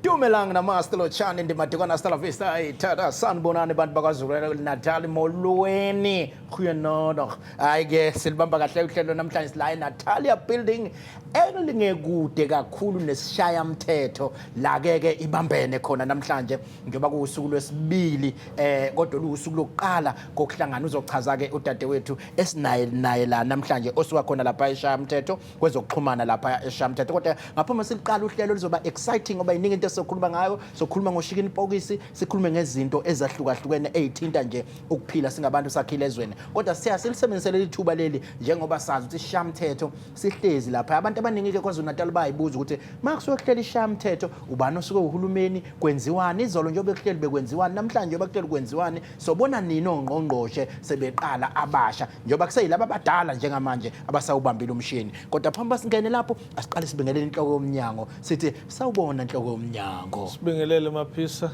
Dumelang namaste lo chani ndi matikwana hasta la vista ay tata sanibonani bantu bakwaZulu Natal molweni goeienaand ay ke silibamba kahle uhlelo namhlanje sila eNatalia building elingekude kakhulu nesishayamthetho lakeke ibambene khona namhlanje njengoba kuwusuku lwesibili eh kodwa luwusuku lokuqala kokuhlangana uzochaza ke udadewethu esinaye naye la namhlanje osuka khona lapha eshayamthetho kwezokuxhumana lapha eshayamthetho kodwa ngaphambi siliqala uhlelo lizoba exciting ngoba iningi into esizokhuluma ngayo sokhuluma ngoshikini pokisi sikhulume ngezinto ezahlukahlukene ezithinta nje ukuphila singabantu sakhile ezweni kodwa siya silisebenzisele lithuba leli njengoba sazi ukuthi shamthetho sihlezi lapha abantu abaningi ke kwaZulu Natal bayibuza ukuthi makusuke kuhlela ishamthetho ubani osuke uhulumeni kwenziwani izolo njengoba kuhleli bekwenziwani namhlanje njengoba kuhleli kwenziwani sobona nini ongqongqoshe sebeqala abasha njengoba kuseyilaba abadala njengamanje abasawubambile umshini kodwa phambi basingene lapho asiqale sibingelele inhloko yomnyango sithi sawubona inhloko yomnyango sibingelele maphisa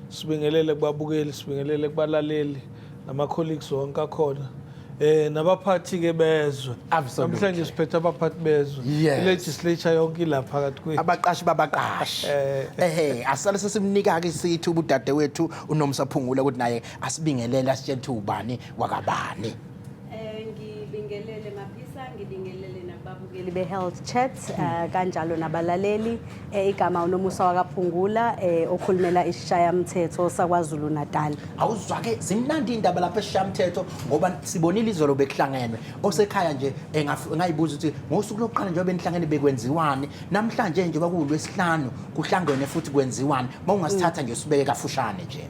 sibingelele kubabukeli sibingelele kubalaleli nama colleagues wonke akhona eh nabaphathi ke bezwe Absolutely. namhlanje siphethe abaphathi bezwe Yes. legislature yonke ila phakathi kwethu abaqashi babaqashi Eh. ehe asale sesimnika-ke isithi ubudade wethu unomsa phungula ukuthi naye asibingelele asitshele ukuthi ubani wakabani Eh ngibingelele maphisa ngibingelele nababukeli be-health chat eh, kanjalo nabalaleli Eh, igama unomusa wakaphungula eh, okhulumela isishayamthetho sakwazulu natal awuzwake zimnandi indaba lapha esishamthetho ngoba sibonile izolo bekuhlangenwe osekhaya nje engaf- engayibuza ukuthi ngosuku lokuqala njengoba enihlangene bekwenziwani namhlanje njengoba kuwulwesihlanu kuhlangene futhi kwenziwani uma ungasithatha nje usibeke kafushane nje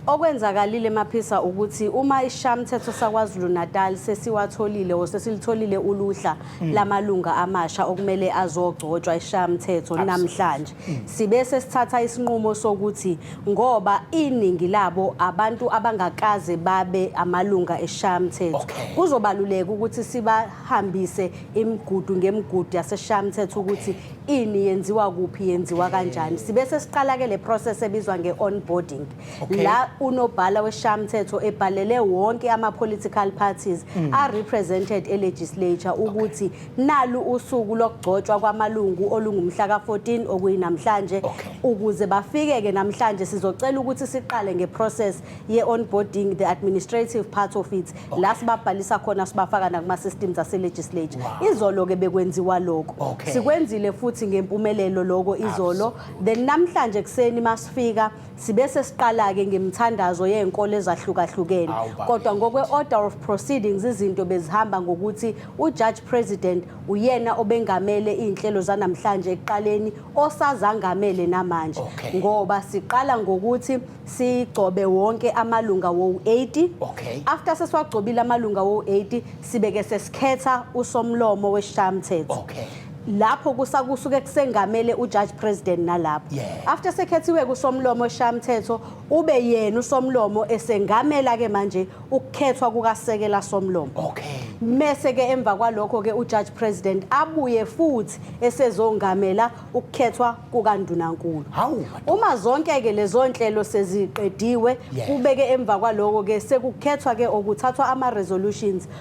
okwenzakalile maphisa ukuthi uma ishamthetho sakwazulu natal sesiwatholile or sesilitholile uluhla hmm. lamalunga amasha okumele azogcotshwa ishamthetho namhlanje hmm. sibe sesithatha isinqumo sokuthi ngoba iningi labo abantu abangakaze babe amalunga eshamthetho kuzobaluleka ukuthi sibahambise imigudu ngemigudu yaseshamthetho ukuthi ini yenziwa kuphi yenziwa kanjani sibe sesiqala ke le process ebizwa nge-onboarding Okay. la unobhala weshamthetho ebhalele wonke ama-political parties mm. are-represented elegislature ukuthi okay. nalu usuku lokugcotshwa kwamalungu olungumhla ka-14 okuyinamhlanje okay. ukuze bafike-ke namhlanje sizocela ukuthi siqale nge-process ye-onboarding the administrative part of it okay. la sibabhalisa khona sibafaka nakuma-systems ase-legislature wow. izolo-ke bekwenziwa loko okay. sikwenzile futhi ngempumelelo loko izolo Absolutely. then namhlanje ekuseni masifika Sibe sesiqala-ke ngemithandazo yenkolo ezahlukahlukene kodwa ngokwe-order of proceedings izinto bezihamba ngokuthi uJudge President uyena obengamele iy'nhlelo zanamhlanje ekuqaleni osazangamele namanje okay. ngoba siqala ngokuthi sigcobe wonke amalunga wowu-80 okay. after sesiwagcobile amalunga wowu-80 sibeke sesikhetha usomlomo wesishayamthetho okay. lapho kusa kusuke kusengamele uJudge President nalapho Yeah. after sekhethiwe kusomlomo eshamthetho ube yena usomlomo esengamela ke manje ukukhethwa kukasekela somlomo Okay. mese ke emva kwalokho ke uJudge President abuye futhi esezongamela ukukhethwa kukandunankulu Hawu. uma zonke ke lezo nhlelo seziqediwe Yes. kube ke emva kwaloko ke sekukhethwa ke okuthathwa ama resolutions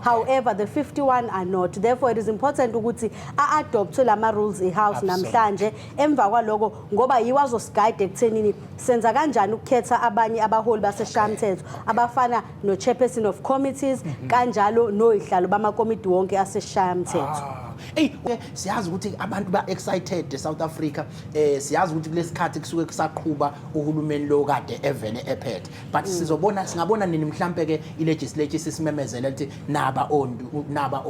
however the 51 are not therefore it is important ukuthi a-adoptwe lama rules i-house namhlanje emva kwaloko ngoba yiwo azosigayida ekuthenini senza kanjani ukukhetha abanye abaholi baseshamthetho abafana no-chairperson of committees mhm. kanjalo noyihlalo bamakomiti wonke aseshamthetho ah. eyi siyazi ukuthi abantu ba-excited e-south africa um siyazi ukuthi kulesikhathi kusuke kusaqhuba uhulumeni lo kade evele ephethe but mm. sizobona singabona nini mhlampe ke ilegislature sisimemezele ukuthi naba ondu naba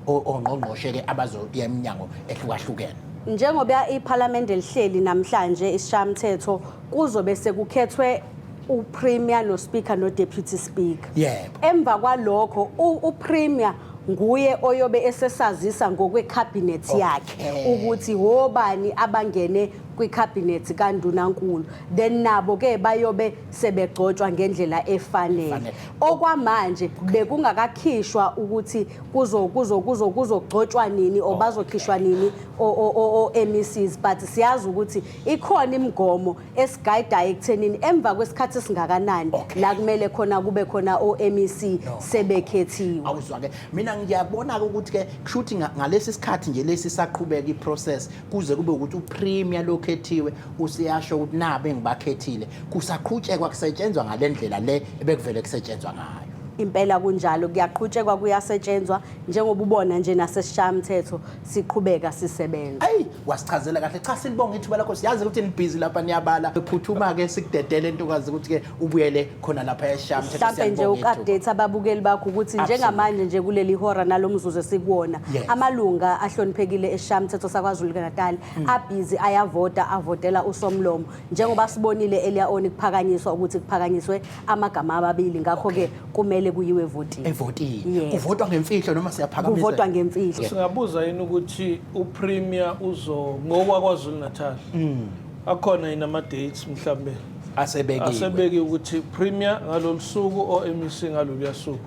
ongqongqoshe ke abazoya eminyango ehlukahlukene njengoba iParliament elihleli namhlanje isishamthetho kuzobe sekukhethwe uPremier noSpeaker noDeputy Speaker yebo emva kwalokho uPremier nguye oyobe esesazisa ngokwecabinet yakhe ukuthi hobani abangene kwikhabhinethi kandunankulu then nabo ke bayobe sebegcotshwa ngendlela efanele okwamanje bekungakakhishwa ukuthi kuzo kuzo kuzo kuzogcotshwa nini or bazokhishwa nini o MECs but siyazi ukuthi ikhona imigomo esigayidayo ekuthenini emva kwesikhathi esingakanani la kumele khona kube khona o MEC sebekhethiwe awuzwa ke mina ngiyabona ukuthi ke kushuthi ngalesi sikhathi nje lesi saqhubeka iprocess kuze kube ukuthi upremier lokhethiwe useyasho ukuthi nabe engibakhethile kusaqhutshekwa kusetshenzwa ngalendlela le ebekuvele kusetshenzwa ngayo impela kunjalo kuyaqhutshekwa kuyasetshenzwa njengoba ubona nje nasesishayamthetho siqhubeka sisebenza ayi wasichazela kahle cha silibonga ithuba lakho siyazi ukuthi nibhizi lapha niyabala ephuthuma-ke sikudedele ntokazi ukuthi-ke ubuyele khona lapha esham mhlampe nje uku-update ababukeli bakho ukuthi njengamanje nje kuleli hora nalo mzuzu esikuwona Yes. amalunga ahloniphekile esham mthetho sakwazulu natal hmm. abhizi ayavota avotela usomlomo njengoba sibonile elia oni kuphakanyiswa ukuthi kuphakanyiswe amagama ababili ngakho-ke kumele kuyiwe evotini evotini Yes. kuvotwa ngemfihlo noma siyaphakamisa kuvotwa ngemfihlo singabuza yini ukuthi upremier uzo ngowakwazulu natal hmm. akhona yini ama-dates mhlawumbe asebekiwe asebeke ukuthi premier ngalolu suku o MEC ngalolu suku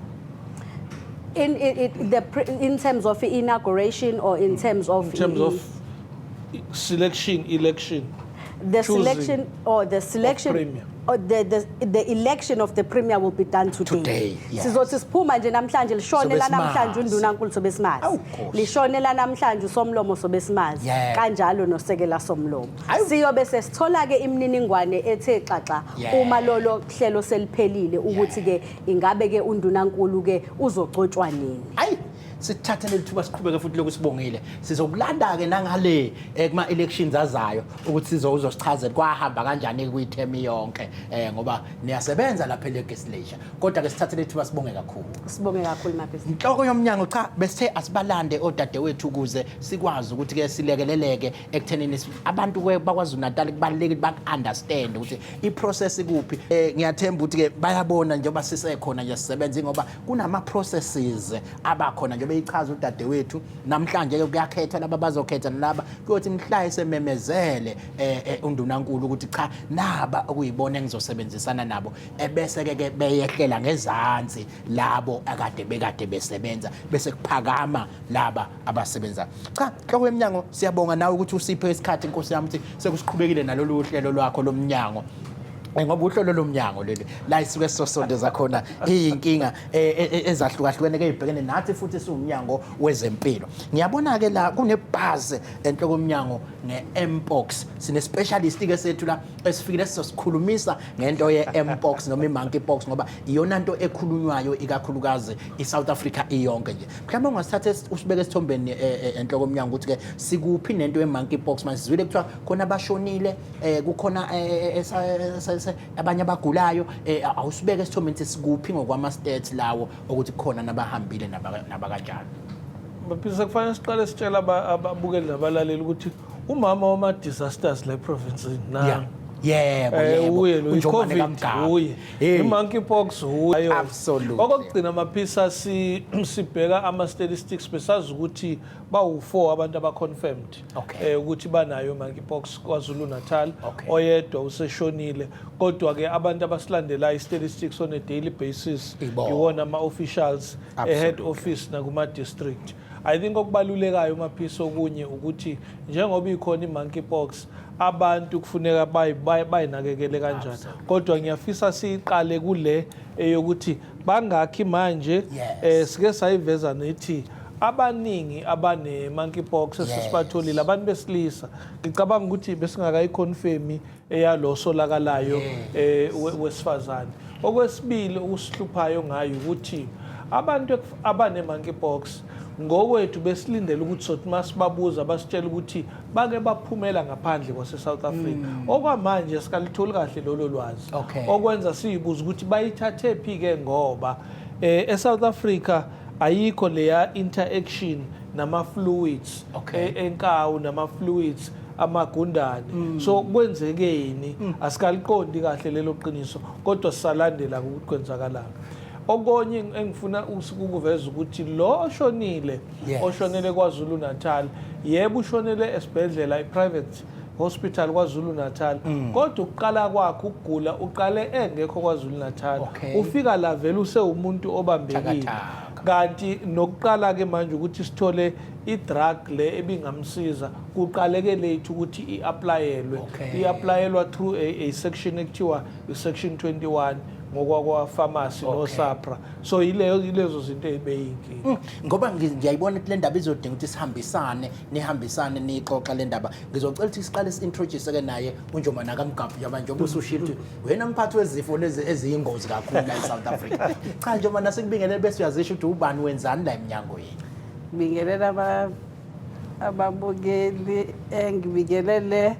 in, in, in, the, in terms of inauguration or in terms of in terms of selection election the selection or the selection premier or the, the, the election of the premier will be done today, today yes. sizothi siphuma nje namhlanje lishone la namhlanje undunankulu sobe simazi lishone la namhlanje usomlomo sobe simazi kanjalo nosekela somlomo siyobe sesithola-ke imininingwane ethe xaxa yeah. uma lolo hlelo seliphelile ukuthi-ke yeah. ingabe-ke undunankulu-ke uzogcotshwa nini ayi sithathe leli thuba siqhubeke futhi lokhu sibongile sizokulanda-ke nangale eh, kuma-elections azayo ukuthi uzosichazela kwahamba kanjani-ke kuyithemi yonke um ngoba niyasebenza lapha elegislature kodwa-ke sithathe leli thuba sibonge kakhulu sibonge kakhulu mabhizinisi inhloko yomnyango cha besithe asibalande odadewethu ukuze sikwazi ukuthi-ke silekeleleke ekuthenini abantu bakwaZulu Natal kubalulekile baku-understand ukuthi i-process ikuphi um ngiyathemba ukuthi-ke bayabona njengoba sisekhona nje sisebenza ingoba kunama-processes abakhona njengoba eyichaza udadewethu namhlanje-ke kuyakhethwa laba bazokhetha nalaba kuyothi mhla esememezele um undunankulu ukuthi cha naba okuyibona engizosebenzisana nabo ebese-ke ke beyehlela ngezansi labo akade bekade besebenza bese kuphakama laba abasebenzayo cha nhloko yemnyango siyabonga nawe ukuthi usiphe isikhathi inkosi yami ukuthi sekusiqhubekile nalolu hlelo lwakho lomnyango Eh, ngoba uhlolo lomnyango leli la isuke sisosondeza khona iyinkinga eh, eh, ezahlukahlukene ke ibhekene nathi futhi siwumnyango wezempilo ngiyabona ke la kunebhaze enhloko omnyango nge-mpox sine-specialist ke sethu la esifikile sizosikhulumisa ngento ye-mpox noma i-monkey pox ngoba iyona nto ekhulunywayo ikakhulukazi i-south africa iyonke nje mhlawumbe ungasithatha usibeke esithombeni eh, eh, enhloko omnyango ukuthi-ke sikuphi nento ye-monkey pox manje sizwile kuthiwa khona abashonile um kukhona abanye abagulayo um awusibeke esithombeni ukuthi sikuphi ngokwama-stats lawo ukuthi kukhona nabahambile nabakanjalo baphisa kufanele siqale sitshela ababukeli nabalaleli ukuthi umama wama-disasters la eprovinsini na yebo eh, yebo unjomane kamgaba Hey. I-monkeypox hu- ayo. Absolutely. okokugcina maphisa si- sibheka ama-statistics besazi ukuthi bawu-four abantu abaconfirmed Okay. eh, ukuthi banayo monkeypox kwazulu natal Okay. oyedwa useshonile kodwa-ke abantu abasilandelayo i-statistics on a daily basis Ibo. iwona ama-officials e-head Absolutely. office nakuma-district I think okubalulekayo uMaphiso okunye ukuthi njengoba ikhona i-monkeypox abantu kufuneka bayinakekele kanjani kodwa ngiyafisa siyiqale kule eyokuthi bangakhi manje um sike sayiveza nethi abaningi abane-monkeypox esesibatholile abantu besilisa ngicabanga ukuthi besingakayikhonfemi eyalo solakalayo eh we- wesifazane okwesibili okusihluphayo ngayo ukuthi abantu ekuf- abane monkeypox ngokwethu besilindele ukuthi sothi masibabuza basitshela ukuthi bake baphumela ngaphandle kwase South Africa okwamanje sikalitholi kahle lolo lwazi Mm. Okay. okwenza siyibuza ukuthi bayithathe phi ke ngoba eh eSouth Africa ayikho leya interaction nama fluids Okay. e- enkawu nama fluids amagundane mm. so kwenzekeni mm. asikaliqondi kahle lelo qiniso kodwa sisalandela ukuthi kwenzakalanga okonye engifuna ukuveza ukuthi lo oshonile oshonele KwaZulu Natal yebo ushonele esibhedlela iprivate hospital KwaZulu Natal mm. kodwa ukuqala kwakhe ukugula uqale engekho KwaZulu Natal ufika la vele usewumuntu obambekile kanti nokuqala ke manje ukuthi sithole idrug le ebingamsiza kuqaleke late ukuthi i-aplayelwe okay. i-aplayelwa through a, a section ekuthiwa i-section 21 ngokwakwa-pharmacy okay. nosapra so yileyo yilezo zinto eyibeyinkinga mm. ngoba ngiyayibona ukuthi le ndaba izodinga ukuthi sihambisane nihambisane niyixoxa le ndaba ngizocela ukuthi siqale si-introduce-ke naye unjoma nakamgabhu njengoba njengoba usushile ukuthi wena mphathi wezifo lezi eziyingozi kakhulu la e-south africa cha njengoba nasekubingelele bese uyazisho ukuthi ubani wenzani la emnyangweni bingelela ababukeli engibingelele eh,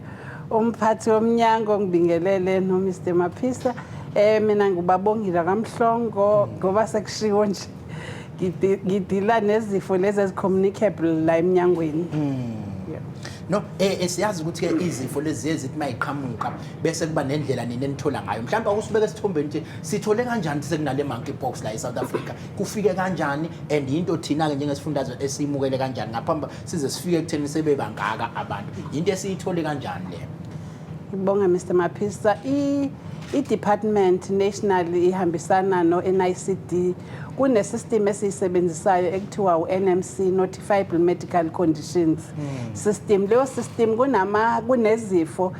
umphathi womnyango ngibingelele eh, nomr maphisa um mina ngibabongile kamhlongo ngoba sekushiwo nje ngidila nezifo lezi ezicommunicable la emnyangweni hmm. no eh, eh siyazi ukuthi ke izifo lezi ezithi mayiqhamuka bese kuba nendlela nini enithola ngayo mhlawumbe akusibeke esithombeni ukuthi sithole kanjani sekunale monkeypox la eSouth Africa kufike kanjani and yinto thina-ke njengesifundazwe esiyimukele kanjani ngaphambi size sifike ekutheni sebebangaka abantu yinto esiyithole kanjani le ngibonge mr maphisa i-department national ihambisana no-nicd kunesystem esiyisebenzisayo ekuthiwa u-nmc notifiable medical conditions hmm. system leyo system kunama kunezifo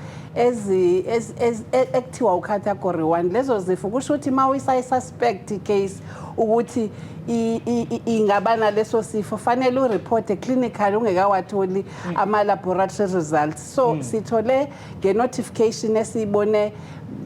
ekuthiwa ucategory one lezo zifo kusho ukuthi uma uyisa suspect icase ukuthi i- i- i- ingaba naleso sifo fanele ureporte clinical ungekawatholi ama-laboratory results so sithole nge-notification esiyibone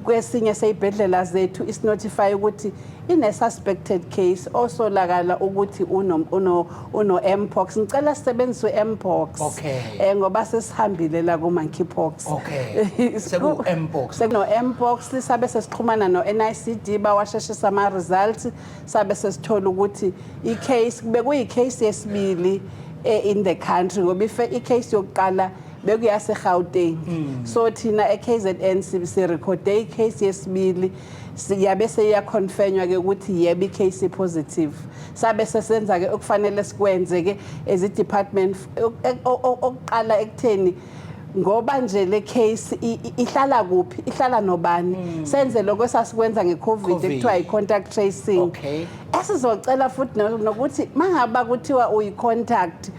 kwesinye seyibhedlela zethu isinotify ukuthi ine-suspected case osolakala ukuthi uno- uno- uno-mpox ngicela sisebenzise u-mpox Okay. um ngoba sesihambile la ku-monkeypox Okay. Seku-mpox. sekuno-mpox sabe sesixhumana no-nicd bawasheshisa ama-results sabe sesithola ukuthi i-case kube kuyi-case yesibili eh, in the country ngoba ife- i-case yokuqala bekuyase-gauteng so thina e-kzn si- sirekhode i-case yesibili siyabe seyakhonfenywa ke ukuthi yebo i-case positive sabe sesenza ke okufanele sikwenze ke as i-department okuqala ekutheni ngoba nje le case ihlala kuphi ihlala nobani hmm. senze lokho esasikwenza ngecovid ekuthiwa i-contact tracing esizocela futhi nokuthi mangabe kuthiwa uyi-contact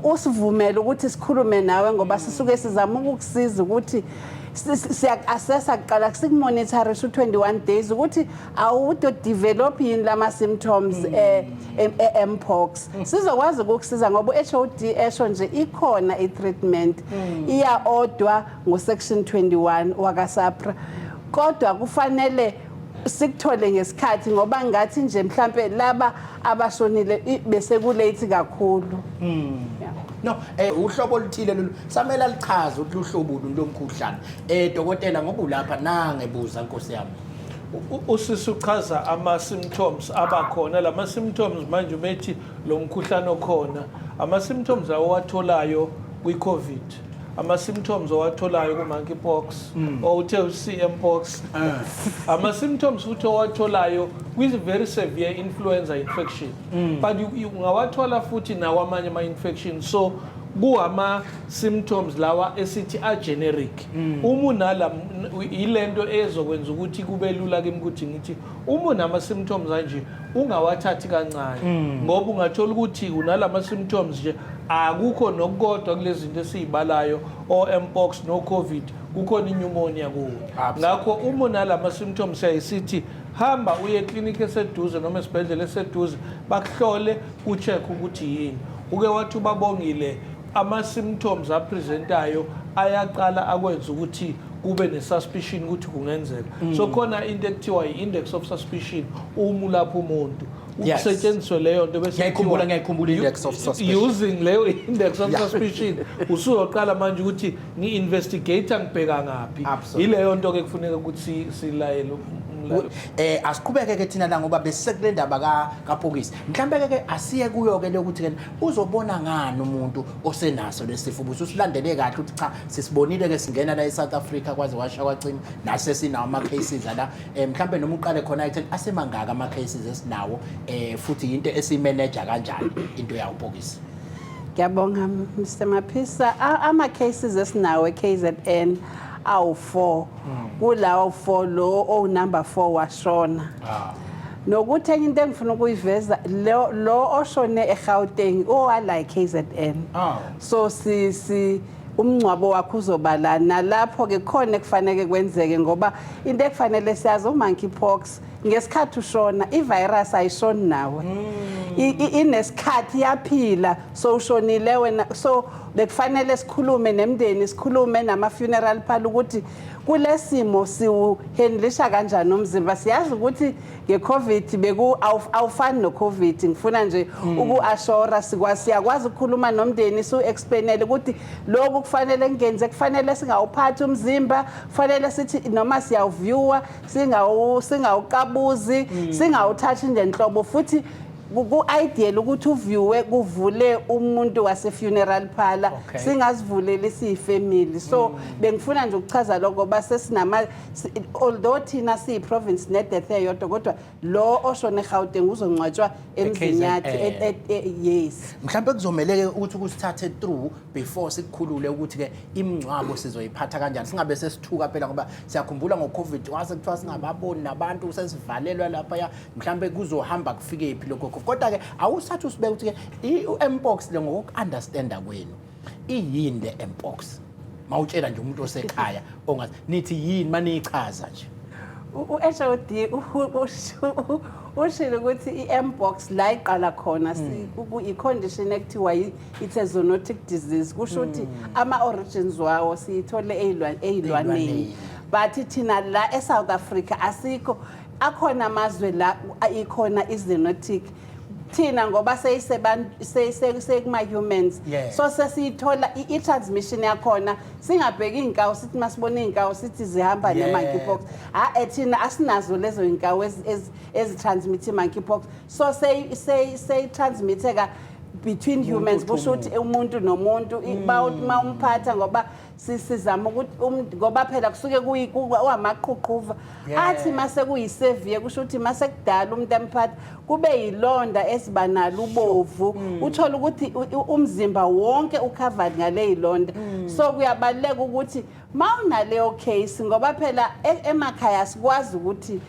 usivumele ukuthi sikhulume nawe ngoba mm. sisuke sizama ukukusiza ukuthi siyaku-assessa kuqala sikumonitharisha u-21 days ukuthi awutodevelop yini lama-symptoms mm. eh, e-mpox mm. sizokwazi ukukusiza ngoba u-h o d esho nje ikhona i-treatment iya-odwa ngo-section 21 wakasapra kodwa kufanele sikuthole ngesikhathi ngoba ngathi nje mhlampe laba abashonile i- bese kulate kakhulu no eh uhlobo oluthile lolu samele alichaze ukuthi luhlobo luni lomkhuhlane eh dokotela ngoba ulapha nangebuza nkosi yami U- usisi uchaza ama-symptoms abakhona la ma-symptoms manje umethi lo mkhuhlane okhona ama-symptoms awowatholayo kwi-covid ama-symptoms owatholayo ku-monkey pox mm. or uthe u-cm pox ah. ama-symptoms futhi owatholayo kwi-very severe influenza infection mm. but ungawathola futhi nawo amanye ama-infection so kuwama-symptoms lawa esithi a-generic mm. uma unala yile nto ezokwenza ukuthi kube lula kimi ukuthi ngithi Uma unama symptoms anje ungawathathi kancane hmm. ngoba ungathola ukuthi unalama symptoms nje akukho nokukodwa kulezinto esizibalayo oMpox no COVID kukhona inyumonia kuwe ngakho uma unalama symptoms ayisithi hamba uye clinic eseduze noma esibhedlela eseduze bakuhlole ucheck ukuthi yini uke wathi ubabongile Ama-symptoms apresentayo ayaqala akwenza ukuthi kube ne-suspicion ukuthi kungenzeka so khona into ekuthiwa i-index of suspicion uma ulapha umuntu Yes. kusetshenziswe leyo nto bese Ngiyayikhumbula, kuthiwa- ngiyayikhumbula index of suspicion. using leyo index of Yeah. suspicion usuzoqala manje ukuthi ngi-investigator ngibheka ngaphi Absolutely. yileyo nto-ke kufuneka ukuthi si- silayele um- umlaleli. eh asiqhubeke ke thina la ngoba besekule ndaba ka kapokisi mhlambe ke ke asiye kuyo ke lokuthi ke uzobona ngani umuntu osenaso lesifo ukuthi usilandele kahle ukuthi cha sisibonile ke singena la eSouth Africa kwaze washa kwacima nase sinawo ama cases la eh, mhlambe noma uqale khona athi asemangaka ama cases esinawo eh futhi into esimanager kanjani into yawo bhokisi Ngiyabonga Mr Maphisa ama cases esinawo eKZN awu 4 hmm. kulawo 4 lo o number 4 washona ah. Nokuthi enye into engifuna ukuyiveza lo lo oshone eGauteng owala eKZN. Aw. So si si umngcwabo wakhe uzoba la nalapho ke khona ekufanele kwenzeke ngoba into ekufanele siyazi umonkeypox ngesikhathi ushona ivirus ayishoni nawe. I- i- Inesikhathi yaphila so ushonile wena so bekufanele sikhulume nemndeni sikhulume nama funeral phala ukuthi kulesimo siwuhandlisha kanjani umzimba siyazi ukuthi ngecovid beku awuf- awufani nocovid ngifuna nje ukuashora sikwa siyakwazi ukukhuluma nomndeni su explainele ukuthi lokhu kufanele ngenze kufanele singawuphathi umzimba kufanele sithi noma siyawuviewer singawu singawuqabuzi singawuthathi ngenhlobo futhi Ku-ideal ukuthi uviwe kuvule umuntu wase-funeral parlor Okay. singazivuleli siyifamily so bengifuna nje ukuchaza lokho ngoba sesinama si- although thina siyi-province ne-death eyodwa kodwa lo oshone egauteng uzongcwatshwa emzini KZN. yakhe et- et- e- yes mhlawumbe kuzomeleke ukuthi kusithathe through before sikukhulule ukuthi-ke imingcwabo sizoyiphatha kanjani singabe sesithuka phela ngoba siyakhumbula ngo-covid wase kuthiwa singababoni nabantu sesivalelwa laphaya mhlambe kuzohamba kufike phi lokho kodwa ke awusathi usibeka ukuthi ke uMpox le ngokuunderstanda kwenu iyini le Mpox mawutshela nje umuntu osekhaya ongathi nithi yini maniyichaza nje uHOD ushilo ukuthi i-mbox la iqala khona hmm. i-condition ekuthiwa it's a zoonotic disease kusho ukuthi hmm. ama-origins wawo siyithole ey'lwaneni but thina la e-south africa asikho akhona amazwe la ikhona i-zenotic thina ngoba seyisema-humans Yeah. so sesiyithola i- i-transmission yakhona singabheki iy'nkawu sithi uma sibona iy'nkawu sithi zihamba Yeah. ne-monkeypox ha-e thina asinazo lezo y'nkawu ezi- ezi- ezitransmithe i-monkeypox so seyi- seyi- seyitransmitheka between humans kusho ukuthi umuntu nomuntu i- bawuthi uma umphatha ngoba sizama ukuthi um, ngoba phela kusuke kuwamaqhuqhuva athi mase kuyiseviye kusho ukuthi mase kudala umuntu emphatha kube yilonda esiba nalo ubovu mm. uthola ukuthi umzimba wonke ucovered ngale yilonda mm. so kuyabaluleka ukuthi mawunaleyo case ngoba phela e, emakhaya sikwazi ukuthi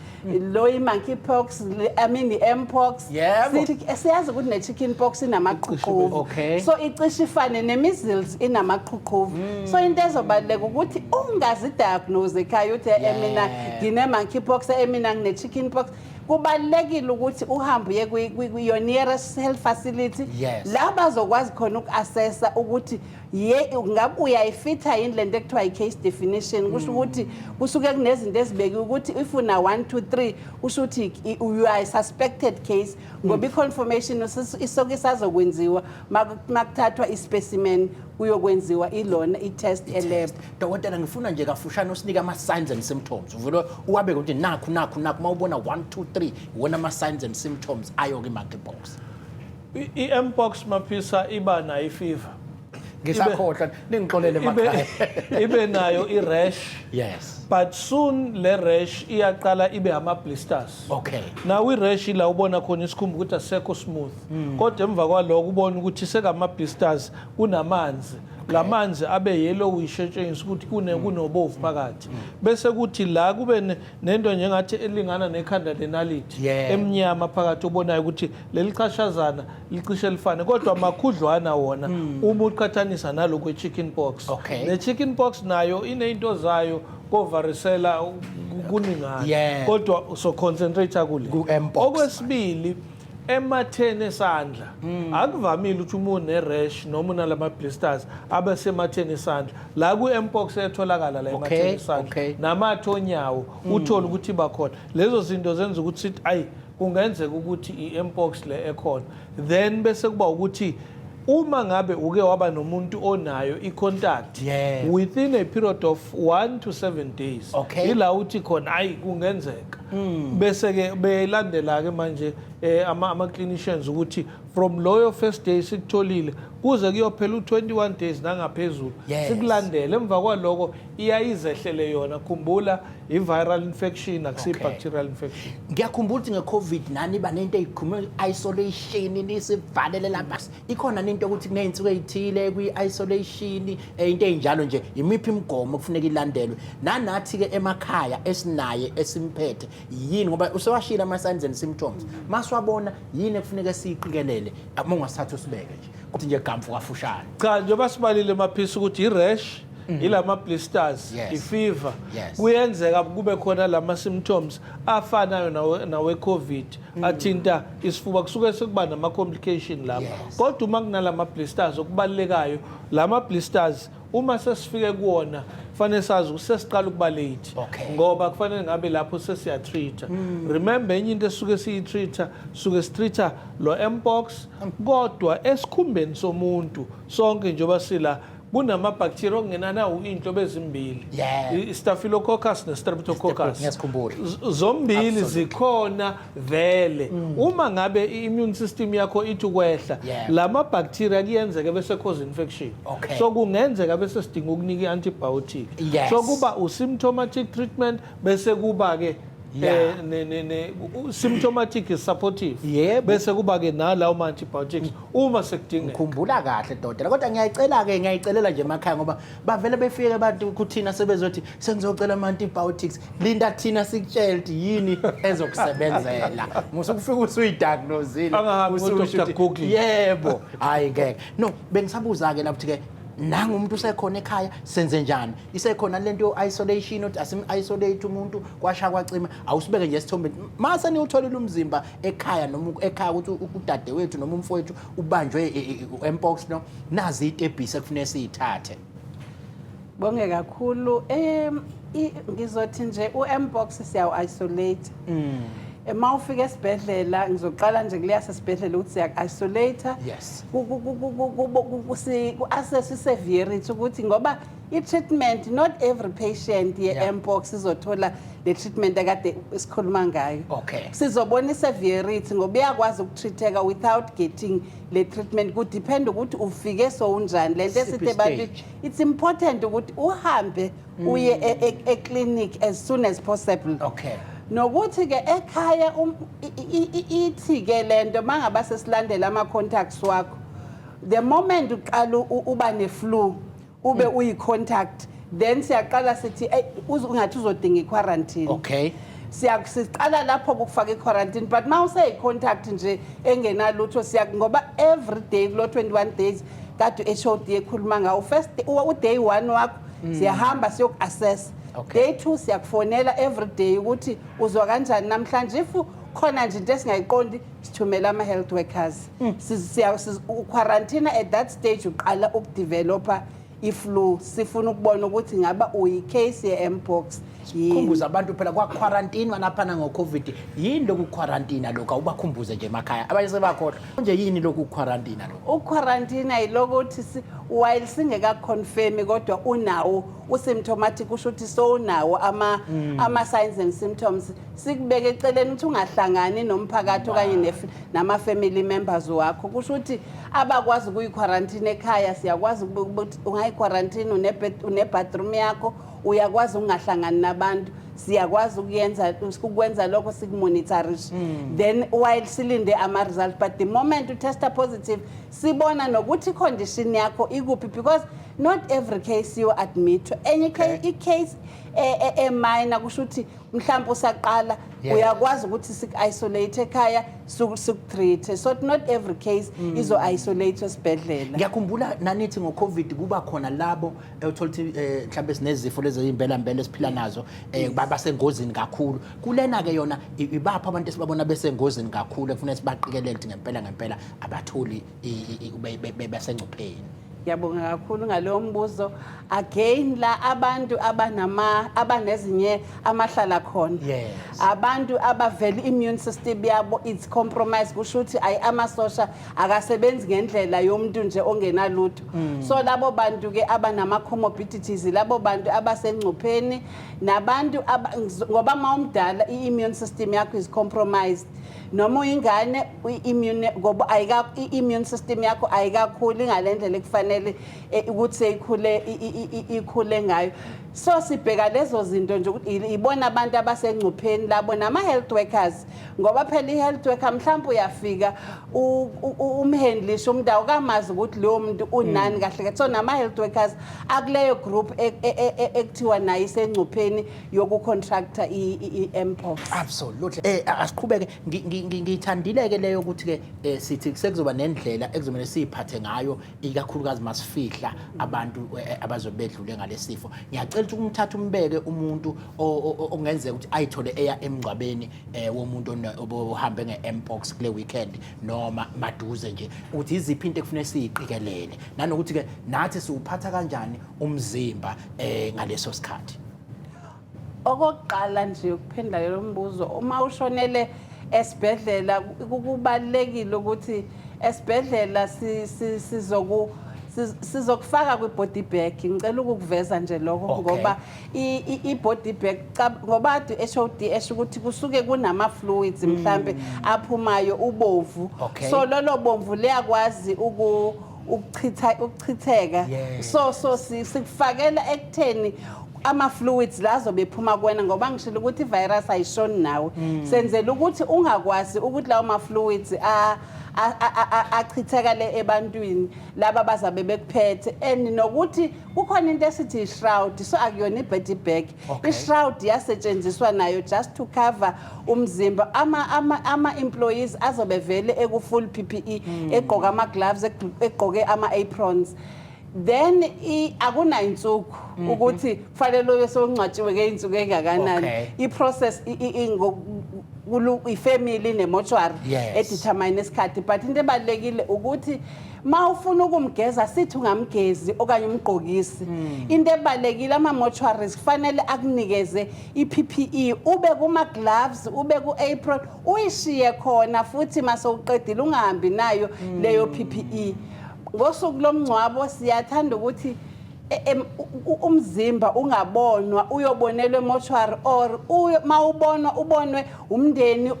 lo i-monkey pox le- i mean i-mpox Yebo. Sithi- siyazi ukuthi ne-chicken pox inamaqhuqhuvu Okay. so icishe ifane ne-measles inamaqhuqhuvu so into ezobaluleka ukuthi ungazidiagnose ekhaya uthi "Eh, Yeah. mina ngine-monkey pox eh, mina ngine-chicken pox kubalulekile ukuthi uhambe uye kwi- kwi- kwi- your nearest health facility Yes. la bazokwazi khona uku-assessa ukuthi ye ngabe uyayifitha yini lento ekuthiwa i-case definition kusho mm. ukuthi kusuke kunezinto ezibekiwe ukuthi if una 1 2 3 kusho ukuthi you are a suspected case ngoba mm. i-confirmation isoke isazokwenziwa makuthathwa i-specimen kuyokwenziwa ilona i-test elab dokotela ngifuna nje kafushane usinike ama-signs and symptoms uvele uwabeke ukuthi nakhu nakhu nakhu uma ubona 1 2 3 iwona ama-signs and symptoms ayo-ke i-monkey box I-Mpox Maphisa iba nayo ifiva. Ngisakhohlwa ningixolele makhaya. Ibe nayo i-rash. Yes. But soon le rash iyaqala ibe ama blisters. Okay. Now i-rash la ubona khona isikhumba ukuthi asekho smooth. Hmm. Kodwa emva kwaloko ubona ukuthi sekama blisters kunamanzi. lamanzi abe yellowish etshengisa ukuthi kune mm. kunobovu phakathi mm. bese kuthi la kube nento njengathi elingana nekhanda lenality emnyama phakathi obonayo ukuthi leli chashazana licishe lifane kodwa makhudlwana wona hmm. uma uqhathanisa nalo kwe-chicken pox okay. ne-chicken pox nayo iney'nto zayo kovarisela kuningana yeah. kodwa soconcentrate kule okwesibili ematheni esandla hmm. akuvamile ukuthi uma une-rash noma unalama-blisters abe sematheni esandla la ku-mpox etholakala la ematheni okay, esandla okay. namathe onyawo hmm. uthole ukuthi bakhona lezo zinto zenza ukuthi sithi ayi kungenzeka ukuthi i-mpox le ekhona then bese kuba ukuthi uma ngabe uke waba nomuntu onayo i-contact yes. within a period of 1 to 7 days okay. ila uthi khona ayi kungenzeka mm. bese ke belandela ke manje eh, ama, ama clinicians ukuthi from loyo first day sikutholile kuze kuyophela u21 days nangaphezulu yes. sikulandele emva kwaloko iyayizehlele yona khumbula i-viral infection akusiyi-bacterial infection ngiyakhumbula ukuthi nge-covid nani iba nento eyikhulume i-isolation nisivalele lapha ikhona nento yokuthi kuney'nsuku ey'thile kwi-isolation eh, into ey'njalo nje yimiphi imigomo okufuneka ilandelwe nanathi-ke emakhaya esinaye esimphethe yini ngoba usewashile ama-signs and symptoms masiwabona yini ekufuneka siyiqikelele uma ungasithatha usibeke nje kuthi nje gamfu kafushane cha njengoba sibalile maphisa ukuthi i-rash Mm. ilama blisters yes. ifever yes. kuyenzeka kube khona lama symptoms afanayo nawe covid mm. athinta isifuba kusuke sekuba nama complication lapha yes. kodwa uma kunalama blisters okubalekayo lama blisters uma sesifike kuwona kufanele sazi ukuthi sesiqala ukuba late okay. ngoba kufanele ngabe lapho sesiyatreat mm. remember enye into esuke siyitreat suke sitreat lo mpox hmm. kodwa esikhumbeni somuntu sonke njengoba sila kunama-bacteria okungenani awuyinhlobo ezimbili Yeah. i- staphylococcus ne-streptococcus Ngiyasikhumbula. Z- zombili zikhona vele uma ngabe i-immune system yakho ithi ukwehla Mm. Yeah. la ma-bacteria kuyenzeka bese cause infection Okay. so kungenzeka bese sidinga ukunika i-antibiotic Yeah. so kuba u-symptomatic treatment bese kuba ke Yeah. eh, ne, ne, ne, u- symptomatic is supportive Yebo. bese kuba ke nalawo ma antibiotics uma sekudingeka ngikhumbula kahle dodela kodwa ngiyayicela-ke ngiyayicelela nje emakhaya ngoba bavele befike abantu kuthina sebezothi sengizocela ama-antibiotics linda thina sikutshele ukuthi yini ezokusebenzela musukufika usuyidiagnosile Angahambi ususho ku-Dr. ukuthi, Google. yebo hhayi ngeke no bengisabuza-ke lapho ukuthi-ke nangu umuntu usekhona ekhaya senze njani isekhona lento yo-isolation othi asim-isolate umuntu kwasha kwacima awusibeke nje esithombeni mase niwutholile umzimba ekhaya noma ekhaya ukuthi udade wethu noma umfowethu ubanjwe e, e, e, empox no nazi itebhisi ekufuneka siyithathe bonge kakhulu um ngizothi nje u-mpox siyawu-isolate mm. uma ufika esibhedlela ngizoqala nje kuleyasesibhedlela ukuthi siyaku-isolate yes ku-assess i-severity ukuthi ngoba i-treatment not every patient ye-mpox sizothola le treatment ekade sikhuluma ngayo okay sizobona i-severity ngoba iyakwazi ukutreateka without getting le treatment kudiphenda ukuthi ufike sowunjani le nto esithe bathi it's important ukuthi uhambe uye e- e- eclinic as soon as possible okay nokuthi ke ekhaya um- i- i- i- ithi ke lento mangaba sesilandela ama contacts wakho the moment uqala u- u- uba ne flu ube Mm. uyi contact then siyaqala sithi "Ey, uz- ungathi uzodinga i quarantine okay siya siqala lapho kukufaka i-quarantine but uma useyi-contact nje engenalutho siya ngoba every day kulo 21 days kade uHOD ekhuluma ngawo first uday one wakho mm. siyahamba siyoku-assessa okay. day two siyakufonela every day ukuthi uzwa kanjani namhlanje if khona nje into esingayiqondi sithumela ama-health workers mm. uquarantina at that stage uqala ukudevelopha i-flu sifuna ukubona ukuthi ngaba uyi-case ye-mpox Khumbuza abantu phela kwa quarantine wanaphana ngo covid yini loku quarantine lokho awubakhumbuze nje emakhaya abanye sebakhohlwa nje yini loku quarantine lokho uquarantine yilokuthi si- while singeka confirm kodwa unawo usymptomatic kusho ukuthi sowunawo ama Mm. ama signs and symptoms sikubeke eceleni ukuthi ungahlangani nomphakathi okanye nef- nama family members wakho kusho ukuthi abakwazi ukuyiquarantine ekhaya siyakwazi ukube- ukuthi ungayiquarantine une bathroom yakho uyakwazi ukungahlangani nabantu siyakwazi ukuyenza ukwenza lokho sikumonitorishe hmm. then while silinde ama-result but the moment utesta positive sibona nokuthi i-condition yakho ikuphi because not every case you admit enye okay. icase eminor e, e, e kusho ukuthi mhlawumbe usaqala yeah. uyakwazi ukuthi siku-isolate ekhaya siku-treat-e so not every case mm. izo-isolate esibhedlela ngiyakhumbula nanithi ngo-covid kuba khona labo ewuthola ukuthi eh, mhlawumbe sinezifo lezi ezimbela mbela esiphila nazo eh, ba- basengozini kakhulu kulena ke yona i- ibaphi abantu esibabona besengozini kakhulu ekufanele sibaqikelele ukuthi ngempela ngempela abatholi i- i- i- be- be- be- besengcupheni ngiyabonga kakhulu ngalowo mbuzo again la abantu abanama abanezinye amahlala khona Yes. abantu abavele immune system yabo it's compromised kusho ukuthi ayi amasosha akasebenzi ngendlela yomuntu nje ongenalutho mm. so labo bantu ke abanama comorbidities labo bantu abasengcupheni nabantu ngoba mawumdala iimmune system yakho is compromised noma uyingane immune ngoba ayika immune system yakho ayikakhuli ngalendlela ekufanele e, ukuthi seyikhule ikhule ngayo so sibheka lezo zinto nje ukuthi ibona abantu abasengcupheni labo nama health workers ngoba phela i-health worker mhlawumbe uyafika umhandlishe umuntu awukamazi ukuthi lowo muntu unani mm. kahle kahle so nama-health workers akuleyo group e, e, e, ekuthiwa nayo isengcupheni yokucontracta i-mpox absolutely eh asiqhubeke ngiyithandile-ke leyo ukuthi-ke eh, sithi sekuzoba nendlela ekuzomele siyiphathe ngayo ikakhulukazi masifihla abantu eh, eh, abazobe bedlule ngalesifo ngiyacela ukuthi umthathe umbeke umuntu ongenzeka ukuthi ayithole eya emngcwabeni eh, womuntu ohambe nge-mpox kule weekend noma maduze nje ukuthi iziphi into ekufanele siyiqikelele nanokuthi-ke nathi siwuphatha kanjani umzimba um ngaleso sikhathi Okokuqala nje ukuphendula lo mbuzo uma ushonele esibhedlela kubalekile ukuthi esibhedlela sizoku sizokufaka kwi-body bag ngicela ukukuveza nje lokho okay. ngoba i-body bag ngoba ade u-hod esho ukuthi kusuke kunama-fluids hmm. mhlampe mm. aphumayo ubovu okay. so lolo bomvu liyakwazi uku ukuchitha ukuchitheka Yes. so so si- sikufakela ekutheni ama-fluids la azobe ephuma kuwena ngoba ngishilo ukuthi i-virus ayishoni nawe Mm. senzela ukuthi ungakwazi ukuthi lawo ma-fluids a- a- a- a- a- achithekele ebantwini laba bazabe bekuphethe and nokuthi kukhona into esithi ishroud so akuyona ibody bag Okay. ishroud yasetshenziswa nayo just to cover umzimba ama ama ama employees azobe vele eku full PPE Hmm. egqoka ama gloves egqo- egqoke ama aprons then i- akunayinsuku Hmm. ukuthi kufanele ube sewungcwatshiwe ngeyinsuku engakanani Okay. i-process i- i- i- ngo- kulu- ifamily nemotuary Yes. edithi determine isikhathi but into ebalekile ukuthi ma ufuna ukumgeza sithi ungamgezi okanye umgqokisi hmm. into ebalekile ama-mortuaries kufanele akunikeze i-ppe ube kuma-gloves ube ku-apron uyishiye khona futhi mase uqedile ungahambi nayo hmm. leyo ppe ngosuku lomngcwabo siyathanda ukuthi e, umzimba ungabonwa uyobonelwa emoshwari or uma ubonwa ubonwe umndeni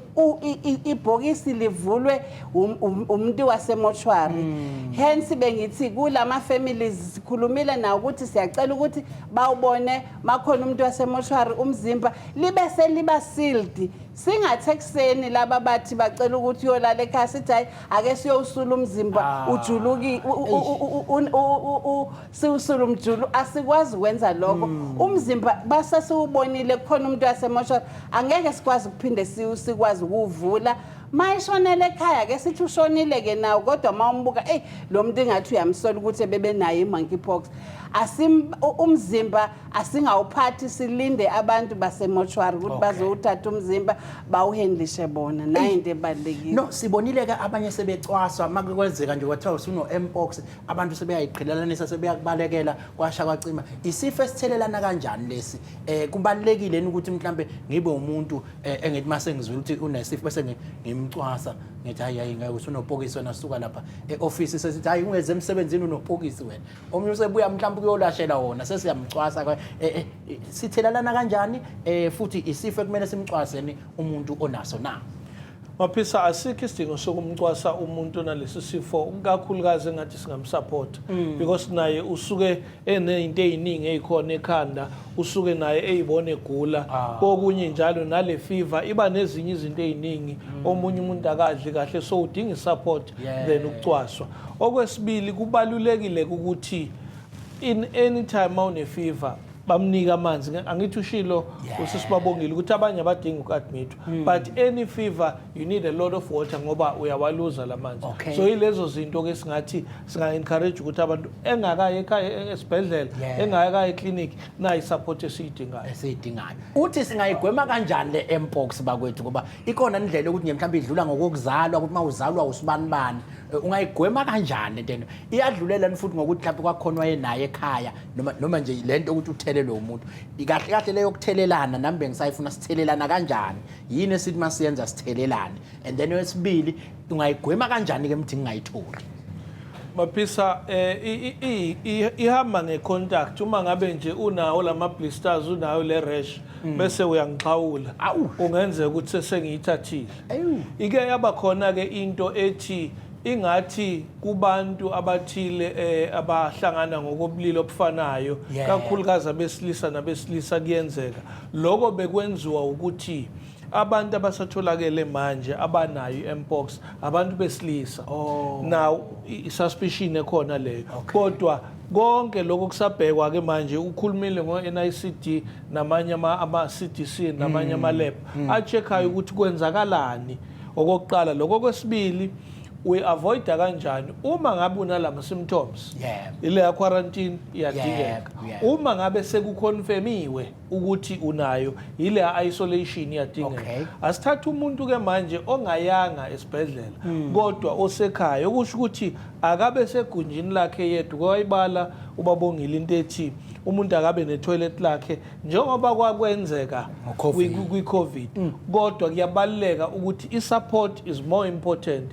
ibhokisi livulwe um, um, umuntu wasemoshwari hmm. hence bengithi kulama families sikhulumile nawo ukuthi siyacela ukuthi bawubone makhona umuntu wasemoshwari umzimba libe seliba sealed singathi ekuseni laba bathi bacela ukuthi uyolala ekhaya sithi hayi ake siyowusula umzimba ah. ujuluki siwusula umjulu asikwazi ukwenza lokho hmm. umzimba basesiwubonile kukhona umuntu wasemoshwari angeke sikwazi ukuphinde sikwazi ukuwuvula ma eshonele ekhaya ke sithi ushonile-ke nawo kodwa ma umbuka eyi lo muntu ingathi uyamsola ukuthi ebebenayo i-monkey pox umzimba asingawuphathi silinde abantu basemoshwari ukuthi okay. bazowuthatha umzimba bawuhendlishe bona nayo into ebalulekile no sibonile-ke abanye sebecwaswa uma kwenzeka nje kwathiwa usuno-mpox abantu sebeyayiqhelelanisa sebeyakubalekela kwasha kwacima isifo esithelelana kanjani lesi eh kubalekile ukuthi mhlambe ngibe umuntu eh, engithi mase ngizwile ukuthi unesifo bese ngimcwasa ngithi hayi hayi ngeke usunopokisi wena suka lapha eoffice sesithi hayi ungeze emsebenzini unopokisi wena omunye usebuya mhlambe kuyolashela wona sesiyamcwasa eh, eh, sithelelana kanjani eh futhi isifo kumele simcwaseni umuntu onaso na Maphisa asikho isidingo sokumcwasa umuntu onalesi sifo kakhulukazi engathi singamsupport mm. because naye usuke enezinto eziningi ezikhona ekhanda usuke naye eyibona egula ah. kokunye njalo nale fever iba nezinye izinto eziningi mm. omunye umuntu akadli kahle so udinga support then ukucwaswa okwesibili kubalulekile ukuthi in any time awune fever bamnika amanzi angithi ushilo usisibabongile ukuthi abanye abadingi uku-admithwa hmm. but any fever you need a lot of water ngoba uyawaluza la manzi okay. so yilezo zinto-ke singathi singa-encourage ukuthi abantu engakayi ekhaya esibhedlela yeah. engakayi eclinic nayo isupport esiyidingayo esiyidingayo uthi singayigwema kanjani le empox bakwethu ngoba ikona indlela yokuthi nje mhlawumbe idlula ngokokuzalwa ukuthi uma uzalwa usibanibani ungayigwema kanjani lento eno iyadlulela ni futhi ngokuthi mhlawumbe kwakhona wayenaye ekhaya noma noma nje lento ukuthi uthelelwe umuntu ikahle kahle leyo kuthelelana nami bengisayifuna sithelelana kanjani yini esithi masiyenza sithelelane and then wesibili ungayigwema kanjani ke mthi ngingayitholi Maphisa eh ihamba ngecontact uma ngabe nje unawo lama blisters unayo le rash bese uyangixhawula kungenzeka ukuthi sengiyithathile ike yaba khona-ke into ethi ingathi kubantu abathile eh abahlangana ngokobulili obufanayo Yeah. kakhulukazi abesilisa nabesilisa kuyenzeka lokho bekwenziwa ukuthi abantu abasatholakele manje abanayo i-mpox abantu besilisa Oh. now i- i-suspicion ekhona leyo kodwa konke lokho kusabhekwa-ke manje ukhulumile ngo-nicd namanye ama-cdc namanye mm. ama-lab mm. a-check-ayo mm. ukuthi kwenzakalani okokuqala lokho kwesibili uyi-avoida kanjani uma ngabe unala ma-symptoms ile ya-quarantine iyadingeka uma ngabe sekukhonfemiwe ukuthi unayo yile ya-isolation iyadingeka asithathe umuntu-ke manje ongayanga esibhedlela hmm. kodwa osekhaya okusho ukuthi akabe segunjini lakhe yedwa kwayibala ubabongile into ethi umuntu akabe netoilet lakhe njengoba kwakwenzeka kwi-covid mm. kodwa kuyabaluleka ukuthi i-support is more important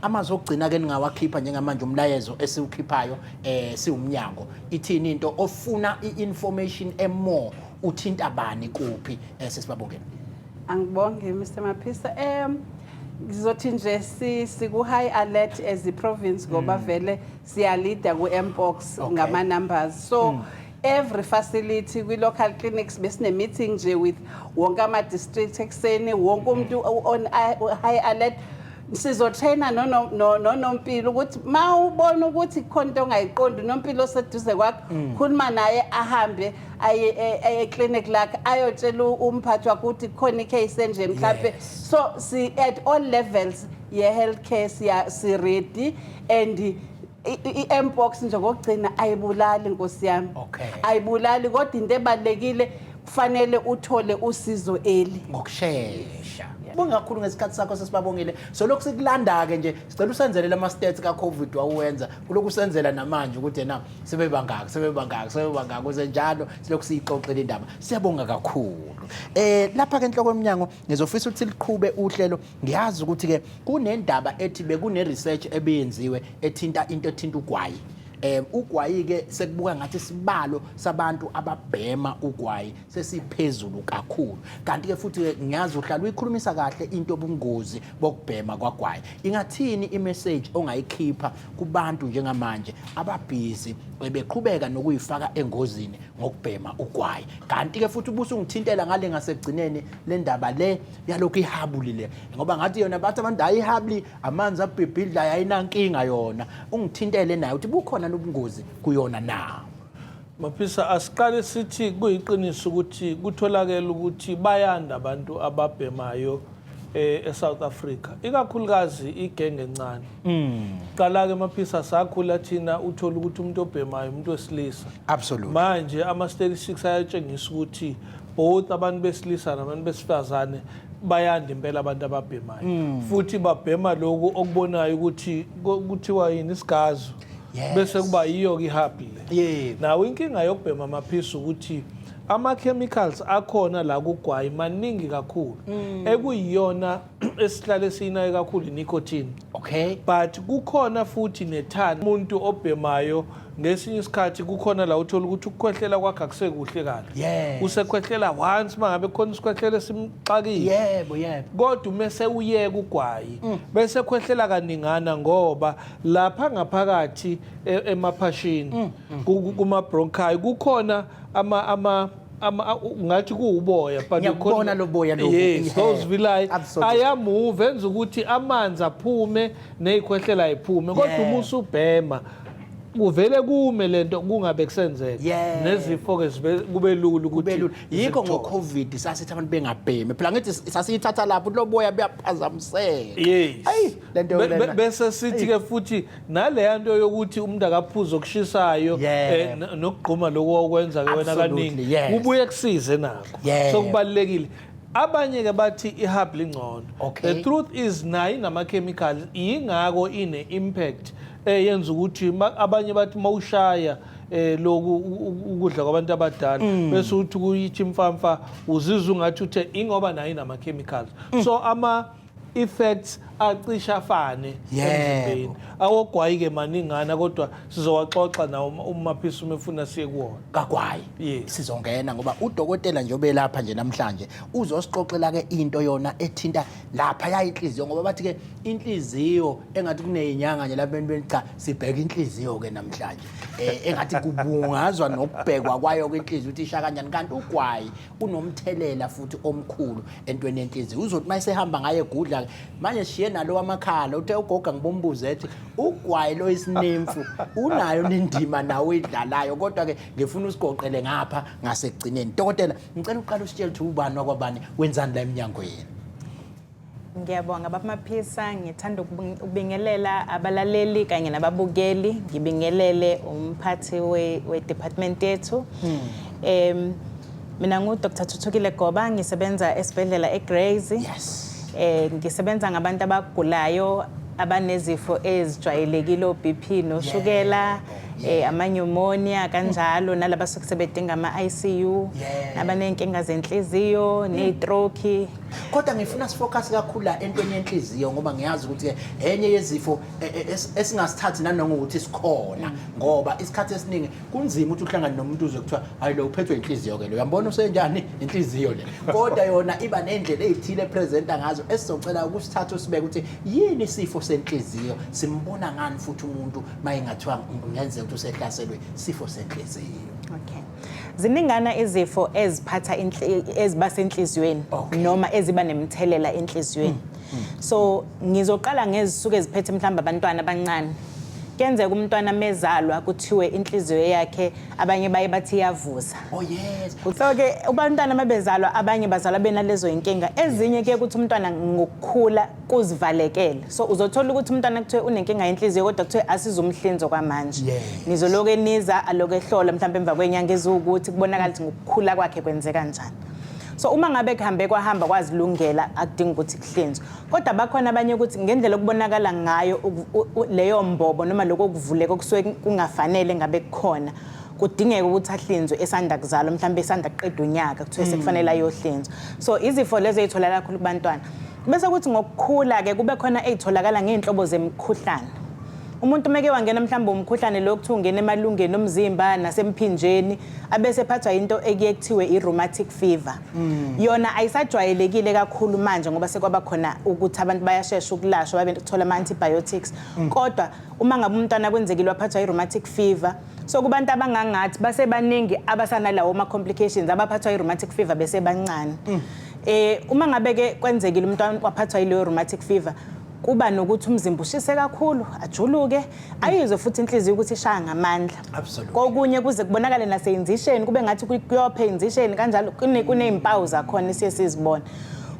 amazwi okugcina ke ningawakhipha njengamanje umlayezo esiwukhiphayo um siwumnyango ithini into ofuna i-information emore uthinta bani kuphi um sesibabongeni angibonge mr maphisa um ngizothi nje sikuhigh alert as i-province ngoba mm. vele siyalida ku-mpox okay. ngama-numbers so mm. every facility kwi-local clinics besine-meeting nje with wonke ama-district ekuseni wonke umuntu on high alert sizotraina nonompilo ukuthi ma ubona ukuthi khona into ongayiqondi unompilo oseduze kwakhe mm. khuluma naye ahambe aye e, e, clinic lakhe ayotshela umphathi wakho ukuthi khona icase enje mhlampe so si at all levels ye healthcare siya si ready and i- i- i-mpox nje ngokugcina ayibulali nkosi yami Okay. ayibulali kodwa into ebalulekile kufanele uthole usizo eli ngokushesha bonge kakhulu ngesikhathi sakho sesibabongile solokhu sikulanda-ke nje sicela usenzele lama-stats ka-covid wawuwenza kulokhu usenzela namanje ukuthi ena sebebangaki sebebangaki sebebangaki kuze njalo silokhu siyixoxile indaba siyabonga kakhulu um lapha-ke enhloko emnyango ngizofisa ukuthi liqhube uhlelo ngiyazi ukuthi ke kunendaba ethi bekune research ebiyenziwe ethinta into ethinta ugwayi um ugwayi ke sekubuka ngathi isibalo sabantu ababhema ugwayi sesiphezulu kakhulu kanti ke futhi ke ngiyazi uhlala uyikhulumisa kahle into obungozi bokubhema kwagwayi ingathini imessage ongayikhipha kubantu njengamanje ababhizi beqhubeka nokuyifaka engozini ngokubhema ugwayi kanti-ke futhi ubuso ungithintela ngale ngasekugcineni le ndaba le yalokhu ihabuli le ngoba ngathi yona bathi abantu hayi ihabuli amanzi abhibhidla yayinankinga yona ungithintele naye ukuthi bukhona nobungozi kuyona na Maphisa asiqale sithi kuyiqiniso ukuthi kutholakele ukuthi bayanda abantu ababhemayo eh, eSouth Africa ikakhulukazi igenge encane mm. qala ke maphisa sakhula thina uthola ukuthi umuntu obhemayo umuntu wesilisa absolutely manje ama statistics ayatshengisa ukuthi both abantu besilisa nabantu besifazane bayanda impela abantu ababhemayo mm. futhi babhema lokhu okubonayo ukuthi kuthiwa yini isigazo bese kuba yiyo ke ihappy le nawo inkinga yokubhema amaphisi ukuthi ama-chemicals akhona la kugwayi maningi kakhulu mm. ekuyiyona esihlale siyinayo kakhulu i-nicotine okay but kukhona futhi nethani umuntu obhemayo ngesinye isikhathi kukhona la uthola ukuthi ukukhwehlela kwakhe akusekuhle kahle yes. usekhwehlela once uma ngabe khona isikhwehlela esimxakile yebo yebo kodwa uma sewuyeka ugwayi mm. bese khwehlela kaningana ngoba lapha ngaphakathi e, emaphashini mm. mm. kuma-bronchi kukhona ama ama ama ngathi kuwuboya but ngiyabona loboya lobu yes those vilay ayamove enza ukuthi amanzi aphume nezikhwehlela iphume kodwa uma usubhema kuvele kume lento kungabe kusenzeka yeah. nezifo ke kube lula ukuthi yikho ngo covid sasithi abantu bengabhemi phela ngithi sasiyithatha lapho loboya buyaphazamiseka yes. lento bese sithi ke futhi naleya nto yokuthi umuntu akaphuza okushisayo Yeah. eh, n- nokugquma lokhu okwenza ke wena Absolutely, kaningi yes. kubuye kusize nako Yeah. so kubalulekile abanye ke bathi ihub lingcono Okay. the truth is nayo inama-chemical yingako ine-impact eyenza ukuthi ma- abanye bathi mawushaya eh loku u- u- ukudla kwabantu abadala Mm. bese uthi kuyithi mfamfa uzizwa ungathi uthe ingoba nayo inama-chemicals Mm. so ama i-facts acishe afane Yebo. emzimbeni awogwayi-ke maningana kodwa sizowaxoxa nawo uma- uma phisa uma efuna siye kuwona kagwayi Yes. sizongena ngoba udokotela nje obelapha nje namhlanje uzosixoxela ke into yona ethinta lapha yayinhliziyo ngoba bathi ke inhliziyo engathi kuneyinyanga nje lapha entweni cha sibheka inhliziyo ke namhlanje eh engathi kubungazwa nokubhekwa kwayo ke inhliziyo ukuthi isha kanjani kanti ugwayi unomthelela futhi omkhulu entweni yenhliziyo uzothi uma esehamba ngaye egudla manje shiye nalo wamakhala uthe ugoga ngibombuze ethi ugwayi lo isinemfu unayo nendima nawe uyidlalayo kodwa ke ngifuna usigoqele ngapha ngasekugcineni dokotela ngicela uqala usitshele ukuthi ubani wakwabani wenzani la emnyango yenu Ngiyabonga Baba Maphisa, ngithanda ukubingelela abalaleli kanye nababukeli, ngibingelele umphathi we-department we yethu. Hmm. Um, mina ngu-Dr. Thuthukile Goba, ngisebenza esibhedlela eGrays. Yes. Eh ngisebenza ngabantu abagulayo abanezifo ezijwayelekile o-BP noshukela yeah. Oh eh amanyumonia kanjalo nalaba sokusebedinga ama ICU abanenkinga zenhliziyo mm. neztroke kodwa ngifuna sifocus kakhulu la entweni yenhliziyo ngoba ngiyazi ukuthi enye yezifo e, e, esingasithathi nanoma ukuthi sikhona ngoba isikhathi esiningi kunzima ukuthi uhlangane nomuntu uze kuthiwa hayi lo uphethwe inhliziyo ke lo uyambona usenjani inhliziyo le kodwa yona iba nendlela ezithile presenter ngazo esizocela ukusithatha usibeke ukuthi yini isifo senhliziyo simbona ngani futhi umuntu mayingathiwa ngenzeka ukuthi usehlaselwe sifo senhliziyo okay Ziningana izifo eziphatha eziba senhliziyweni noma eziba nemthelela enhliziyweni. Mm, mm. So ngizoqala ngezisuke ziphethe mhlawumbe abantwana abancane. Kuyenzeka umntwana mezalwa kuthiwe inhliziyo yakhe abanye baye bathi iyavuza. Oh yes. So ke abantwana mabezalwa abanye bazalwa benalezo inkinga. Ezinye ke ukuthi umntwana ngokukhula kuzivalekele so uzothola ukuthi umntwana kuthiwe unenkinga yenhliziyo kodwa kuthiwe asizumhlinzo kwamanje Yes. nizoloke niza aloke ehlola mhlawumbe emva kwenyanga eziwukuthi kubonakala ukuthi ngokukhula kwakhe kwenzeka njani so uma ngabe kuhambe kwahamba kwazilungela akudingi ukuthi kuhlinzwe kodwa bakhona abanye ukuthi ngendlela okubonakala ngayo uku- u- u- leyo mbobo noma lokho kuvuleka okusuke kungafanele ngabe kukhona kudingeka ukuthi ahlinzwe esanda kuzalwa mhlawumbe esanda kuqeda unyaka kuthiwe sekufanele ayohlinzwa so izifo lezo ey'tholakala kakhulu kubantwana Bese kuthi ngokukhula ke kube khona ezitholakala ngeenhlobo zemkhuhlane. Umuntu meke wangena mhlawumbe umkhuhlane lo kuthi ungena emalungeni omzimba nasemphinjeni abese phathwa into ekuye kuthiwe i-rheumatic fever. Mm. Yona ayisajwayelekile kakhulu manje ngoba sekwaba khona ukuthi abantu bayashesha ukulashwa babe kuthola ama-antibiotics. Mm. Kodwa uma ngabe umntwana kwenzekile waphathwa i-rheumatic fever so kubantu abangangathi basebaningi abasanalawo ma complications abaphathwa i-rheumatic fever besebancane mm. eh uma ngabe ke kwenzekile umntwana waphathwa ileyo rheumatic fever kuba nokuthi umzimba ushise kakhulu ajuluke ayizwe futhi inhliziyo ukuthi ishaya ngamandla kokunye kuze kubonakale naseyinzisheni kube ngathi kuyophe inzisheni kanjalo kunezimpawu zakhona siye sizibone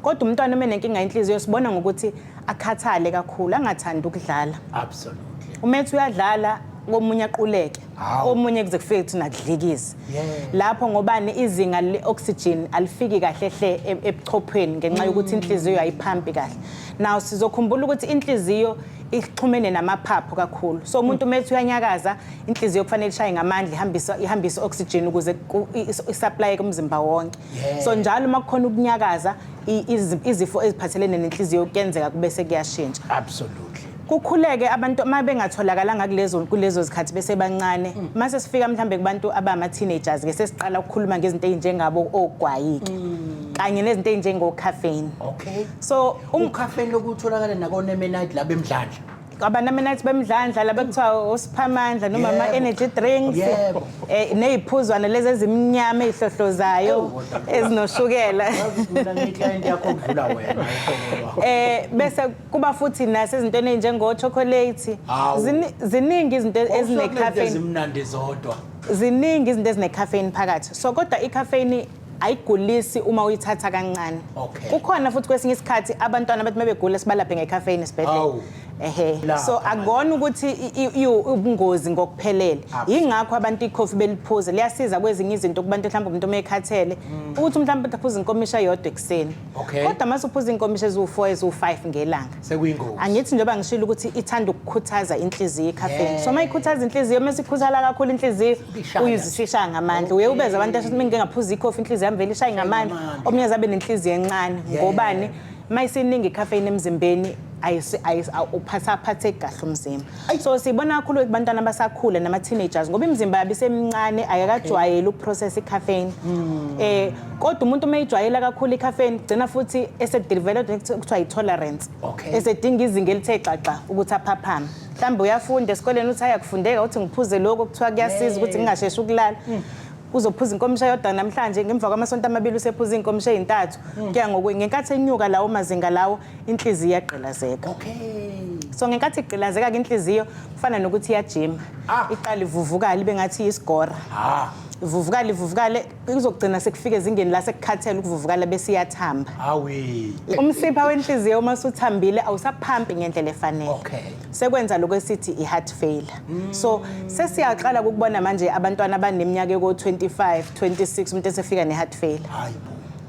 kodwa umntwana uma nenkinga inhliziyo sibona ngokuthi akhathale kakhulu angathandi ukudlala absolutely umethi uyadlala komunye aquleke Hawu. omunye kuze kufike kuthi nakudlikiza Yeah. lapho ngobani izinga le-oxygen alifiki kahle hle e- ebuchophweni ngenxa yokuthi inhliziyo ayiphampi kahle naw sizokhumbula ukuthi inhliziyo ixhumene namaphaphu kakhulu so umuntu uma ethi uyanyakaza inhliziyo kufanele ishaye ngamandla ihambise ihambise i-oxygen ukuze ku- i- is- isaplaye kumzimba wonke Yeah. so njalo uma kukhona ukunyakaza i- izi- izifo eziphathelene nenhliziyo kuyenzeka kube sekuyashintsha absolutely kukhuleke abantu uma bengatholakalanga kulezo kulezo zikhathi besebancane mm. uma sesifika mhlawumbe kubantu abama-teenagers ke sesiqala ukukhuluma ngezinto ey'njengabo ogwayike mm. kanye nezinto ey'njengocaffeine okay so um- ucaffeine lokutholakala nakonemenite laba emdlandla abanamenathi bemdlandla laba kuthiwa osiphamandla noma ama-energy drinks um eh, ney'phuzwana lezi ezimnyama ey'hlohlozayo ezinoshukela um eh, bese kuba futhi nasezintweni ezinjengochocolate Hawu. Zini- ziningi izinto Wawusho kunento ezinecaffeine ezimnandi zodwa ziningi izinto ezinecaffeine phakathi so kodwa icaffeine ayigulisi uma uyithatha kancane Okay. kukhona futhi kwesinye isikhathi abantwana abathi uma begula sibalaphe ngecaffeine esibhedlela Hawu. ehe Lapha so manje. akona ukuthi i- i- iwu- ubungozi ngokuphelele Absolutely. yingakho abantu ikhofi beliphuze liyasiza kwezinye izinto kubantu mhlawumbe umuntu uma ekhathele ukuthi mhlawumbe aphuze inkomisha yodwa ekuseni Okay. Kodwa mase uphuza inkomishi eziwu4 eziwu5 ngelanga. Sekuyingozi. Angithi njengoba ngishilo ukuthi ithanda ukukhuthaza inhliziyo icaffeine. Yeah. So mayikhuthaza inhliziyo mase ikhuthala kakhulu inhliziyo uyizisisha ngamandla. Uye ubeza abantu asho mina ngingaphuza ikhofi inhliziyo yami vele ishaye ngamandla. Omunye azabe nenhliziyo encane. Ngobani? Mayisiningi icaffeine emzimbeni ayisi ayisi uphatha phathe kahle umzimba. so siyibona kakhulu kubantwana abasakhula nama-teenagers ngoba imizimba yabo isemincane ayakajwayeli ukuprocessa icaffeine um kodwa umuntu uma ijwayela kakhulu icaffeine kugcina futhi esedeveloped kuthiwa yi-tolerance Okay. esedinga izinga elithe xaxa ukuthi aphaphame mhlawumbe uyafunda esikoleni uthi ayakufundeka uthi ngiphuze lokho kuthiwa kuyasiza ukuthi ngingasheshi ukulala uzophuza inkomisha yodwa namhlanje ngemva kwamasonto amabili usephuza iy'nkomisha ey'ntathu kuya ngokwe ngenkathi enyuka lawo mazinga lawo inhliziyo iyagqilazeka okay so ngenkathi igqilazeka ke inhliziyo kufana nokuthi iyajima ah. iqala ivuvukala ibe ngathi isigora ah. ivuvukale ivuvukale kuzogcina sekufika ezingeni la sekukhathele ukuvuvukala bese iyathamba awi umsipha wenhliziyo uma suthambile awusaphampi ngendlela efanele okay sekwenza lokho esithi i-heart failure mm. so sesiyaqala ukubona manje abantwana abaneminyaka eko-25 26 umuntu esefika ne-heart failure hayi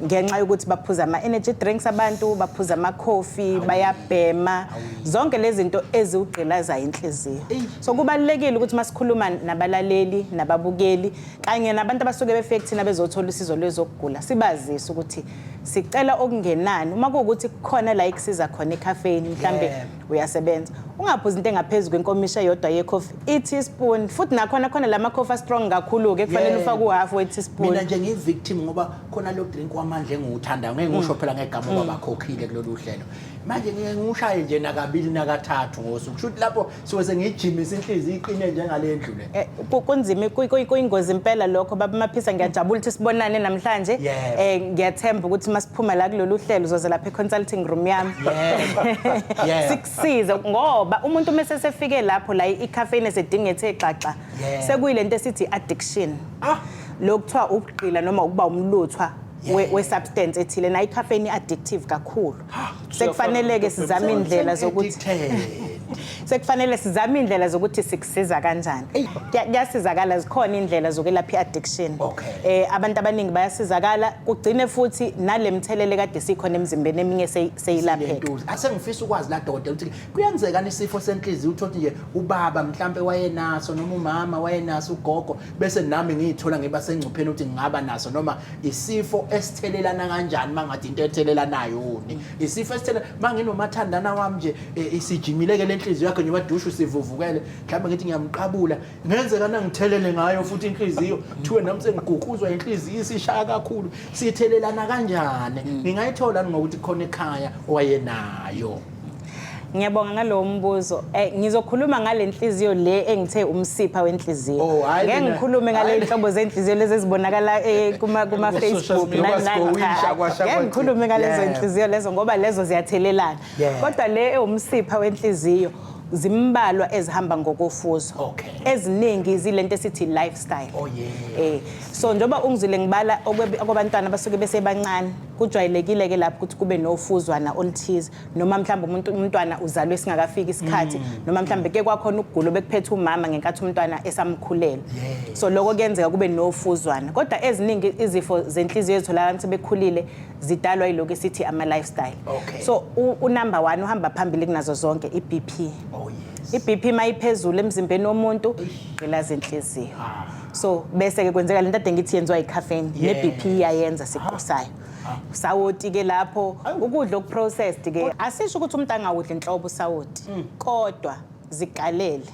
ngenxa yokuthi baphuza ama-energy drinks abantu baphuza amakhofi bayabhema zonke lezi zinto eziwugqilazayo inhliziyo so kubalulekile ukuthi uma sikhuluma nabalaleli nababukeli kanye nabantu abasuke befike kuthina bezothola usizo lwezokugula sibazise ukuthi sicela okungenani uma kuwukuthi kukhona la ekusiza khona ekhafeni mhlawumbe uyasebenza ungaphuzi into engaphezu kwenkomisha yodwa yekhofi i-teaspoon futhi nakhona khona la makhofi a-strong kakhulu-ke kufanele Yeah. ufake uhafu we-teaspoon mina nje ngiyi-victim ngoba khona lo drink wamandla engiwuthandayo ngeke ngiwusho phela ngegama uba bakhokhile kulolu hlelo manje ngike ngiwushaye nje nakabili nakathathu ngosuku kusho ukuthi lapho suke sengiyijimise inhliziyo iqine njengale ndlu le Eh, kunzima kuyingozi impela lokho baba maphisa ngiyajabula ukuthi sibonane namhlanje eh ngiyathemba ukuthi masiphuma la kulolu hlelo uzoze lapha econsulting room yami sikusize ngoba umuntu uma sesefike lapho la icaffeine esedinga ethe xaxa sekuyilento esithi addiction ah. lokuthiwa ukugqila noma ukuba umluthwa we-substance ethile nayo icaffeine i-addictive kakhulu sekufanele-ke sizame iy'ndlela zokuthi sekufanele sizame iy'ndlela zokuthi sikusiza kanjani Kuya- kuyasizakala zikhona iy'ndlela zokwelapha i-addiction Okay. eh abantu abaningi bayasizakala kugcine futhi nale mthelele kade sikhona emzimbeni eminye seyi- seyilapheka Lentuza. Ase ngifisa ukwazi la dokotela ukuthi kuyenzeka nisifo senhliziyo uthothe nje ubaba mhlambe wayenaso noma umama wayenaso ugogo bese nami ngiyithola ngiba sengcupheni ukuthi ngingaba naso noma isifo esithelelana kanjani mangathi into ethelelanayo uni isifo esithele manginomathandana wami nje e, isijimile ke lenhliziyo yakhe njengoba dushu sivuvukele mhlawumbe ngithi ngiyamqabula ngenzeka nangithelele ngayo futhi inhliziyo thiwe nami sengiguquzwa inhliziyo isishaya kakhulu sithelelana kanjani mm. ngingayithola ngokuthi khona ekhaya owayenayo Ngiyabonga ngalowo mbuzo. Eh ngizokhuluma ngalenhliziyo le engithe umsipha wenhliziyo. Oh, hhayi Ngeke mina. ngikhulume ngale Hhayi. nhlobo zenhliziyo lezi ezibonakala eh, kuma kuma Social Facebook media. nani nani. Kwasgowisha, Cha, cha. kwasha Ngeke kwathi. ngikhulume ngalezo Yeah. inhliziyo lezo ngoba lezo ziyathelelana. Yeah. Kodwa le ewumsipha wenhliziyo zimbalwa ezihamba ngokofuzo. Okay. Eziningi zilento esithi lifestyle. Oh, yeah. Eh so njengoba ungizile ngibala okweb- okwabantwana abasuke besebancane kujwayelekile-ke lapho ukuthi kube nofuzwana oluthize noma mhlawumbe umuntu umntwana uzalwe singakafiki isikhathi mm. noma mhlawumbe ke kwakhona ukugula obekuphethe umama ngenkathi umntwana esamkhulela so lokho kuyenzeka kube nofuzwana kodwa eziningi izifo zenhliziyo ezitholakala abantu sebekhulile zidalwa yilokho esithi ama-lifestyle so unumber one uhamba phambili kunazo zonke i-bp oh, i-bp mayiphezulu emzimbeni womuntu gqilaza inhliziyo ah. so bese ke kwenzeka lento ade ngithi yenziwa icaffeine ne BP iyayenza sikusayo sawoti ke lapho ukudla okuprocessed ke asisho ukuthi umuntu angawudli inhlobo sawoti mm. kodwa zigalele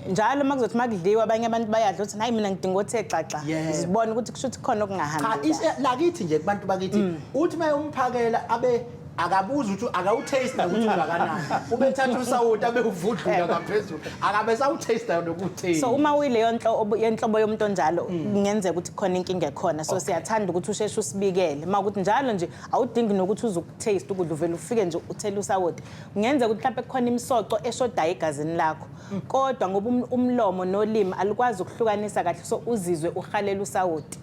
njalo uma kuzothi uma kudliwa abanye abantu bayadla ukuthi hayi mina ngidinga ukuthi exaxa zibone ukuthi kusho ukuthi khona okungahambi cha lakithi nje kubantu bakithi mm. uthi uma umphakela abe akabuzi ukuthi akawutaste nokuthi ungakanani ubethatha usawoti abewuvudlula ngaphezulu akabe sawutaste nokutaste so uma uyileyo nhlobo yenhlobo yomuntu onjalo kungenzeka ukuthi khona inkinga ekhona so siyathanda ukuthi usheshe usibikele uma ukuthi njalo nje awudingi nokuthi uze ukutaste ukudla uvele ufike nje uthele usawoti kungenzeka ukuthi mhlawumbe kukhona imisoco eshodayo egazini lakho kodwa ngoba um- umlomo nolimi alukwazi ukuhlukanisa kahle so uzizwe uhalela usawoti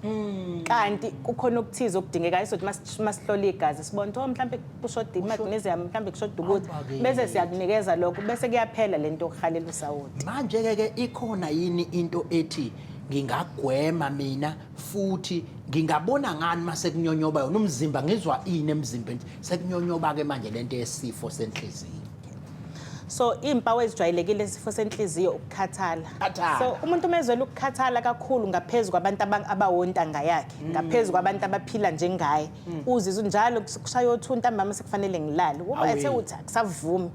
kanti kukhona okuthize okudingekayo sokuthi uma sihlola igazi sibona ukuthi oh, mhlawumbe kushoda i-magnesium mhlawumbe kushoda ukuthi Hamba-ke. bese siyakunikeza lokho bese kuyaphela le nto yokuhalela usawoti manje-ke ke ikhona yini into ethi ngingagwema mina futhi ngingabona ngani uma sekunyonyoba yona umzimba ngizwa ini emzimbeni sekunyonyoba-ke manje le nto yesifo senhliziyo so iy'mpawu ezijwayelekile isifo senhliziyo ukukhathala Khathala. so umuntu uma ezwela ukukhathala kakhulu ngaphezu kwabantu aba- abawontanga yakhe ngaphezu kwabantu abaphila njengaye uzizwa njalo kushaya othu ntambama sekufanele ngilale uba Awee. ethe uthi akusavumi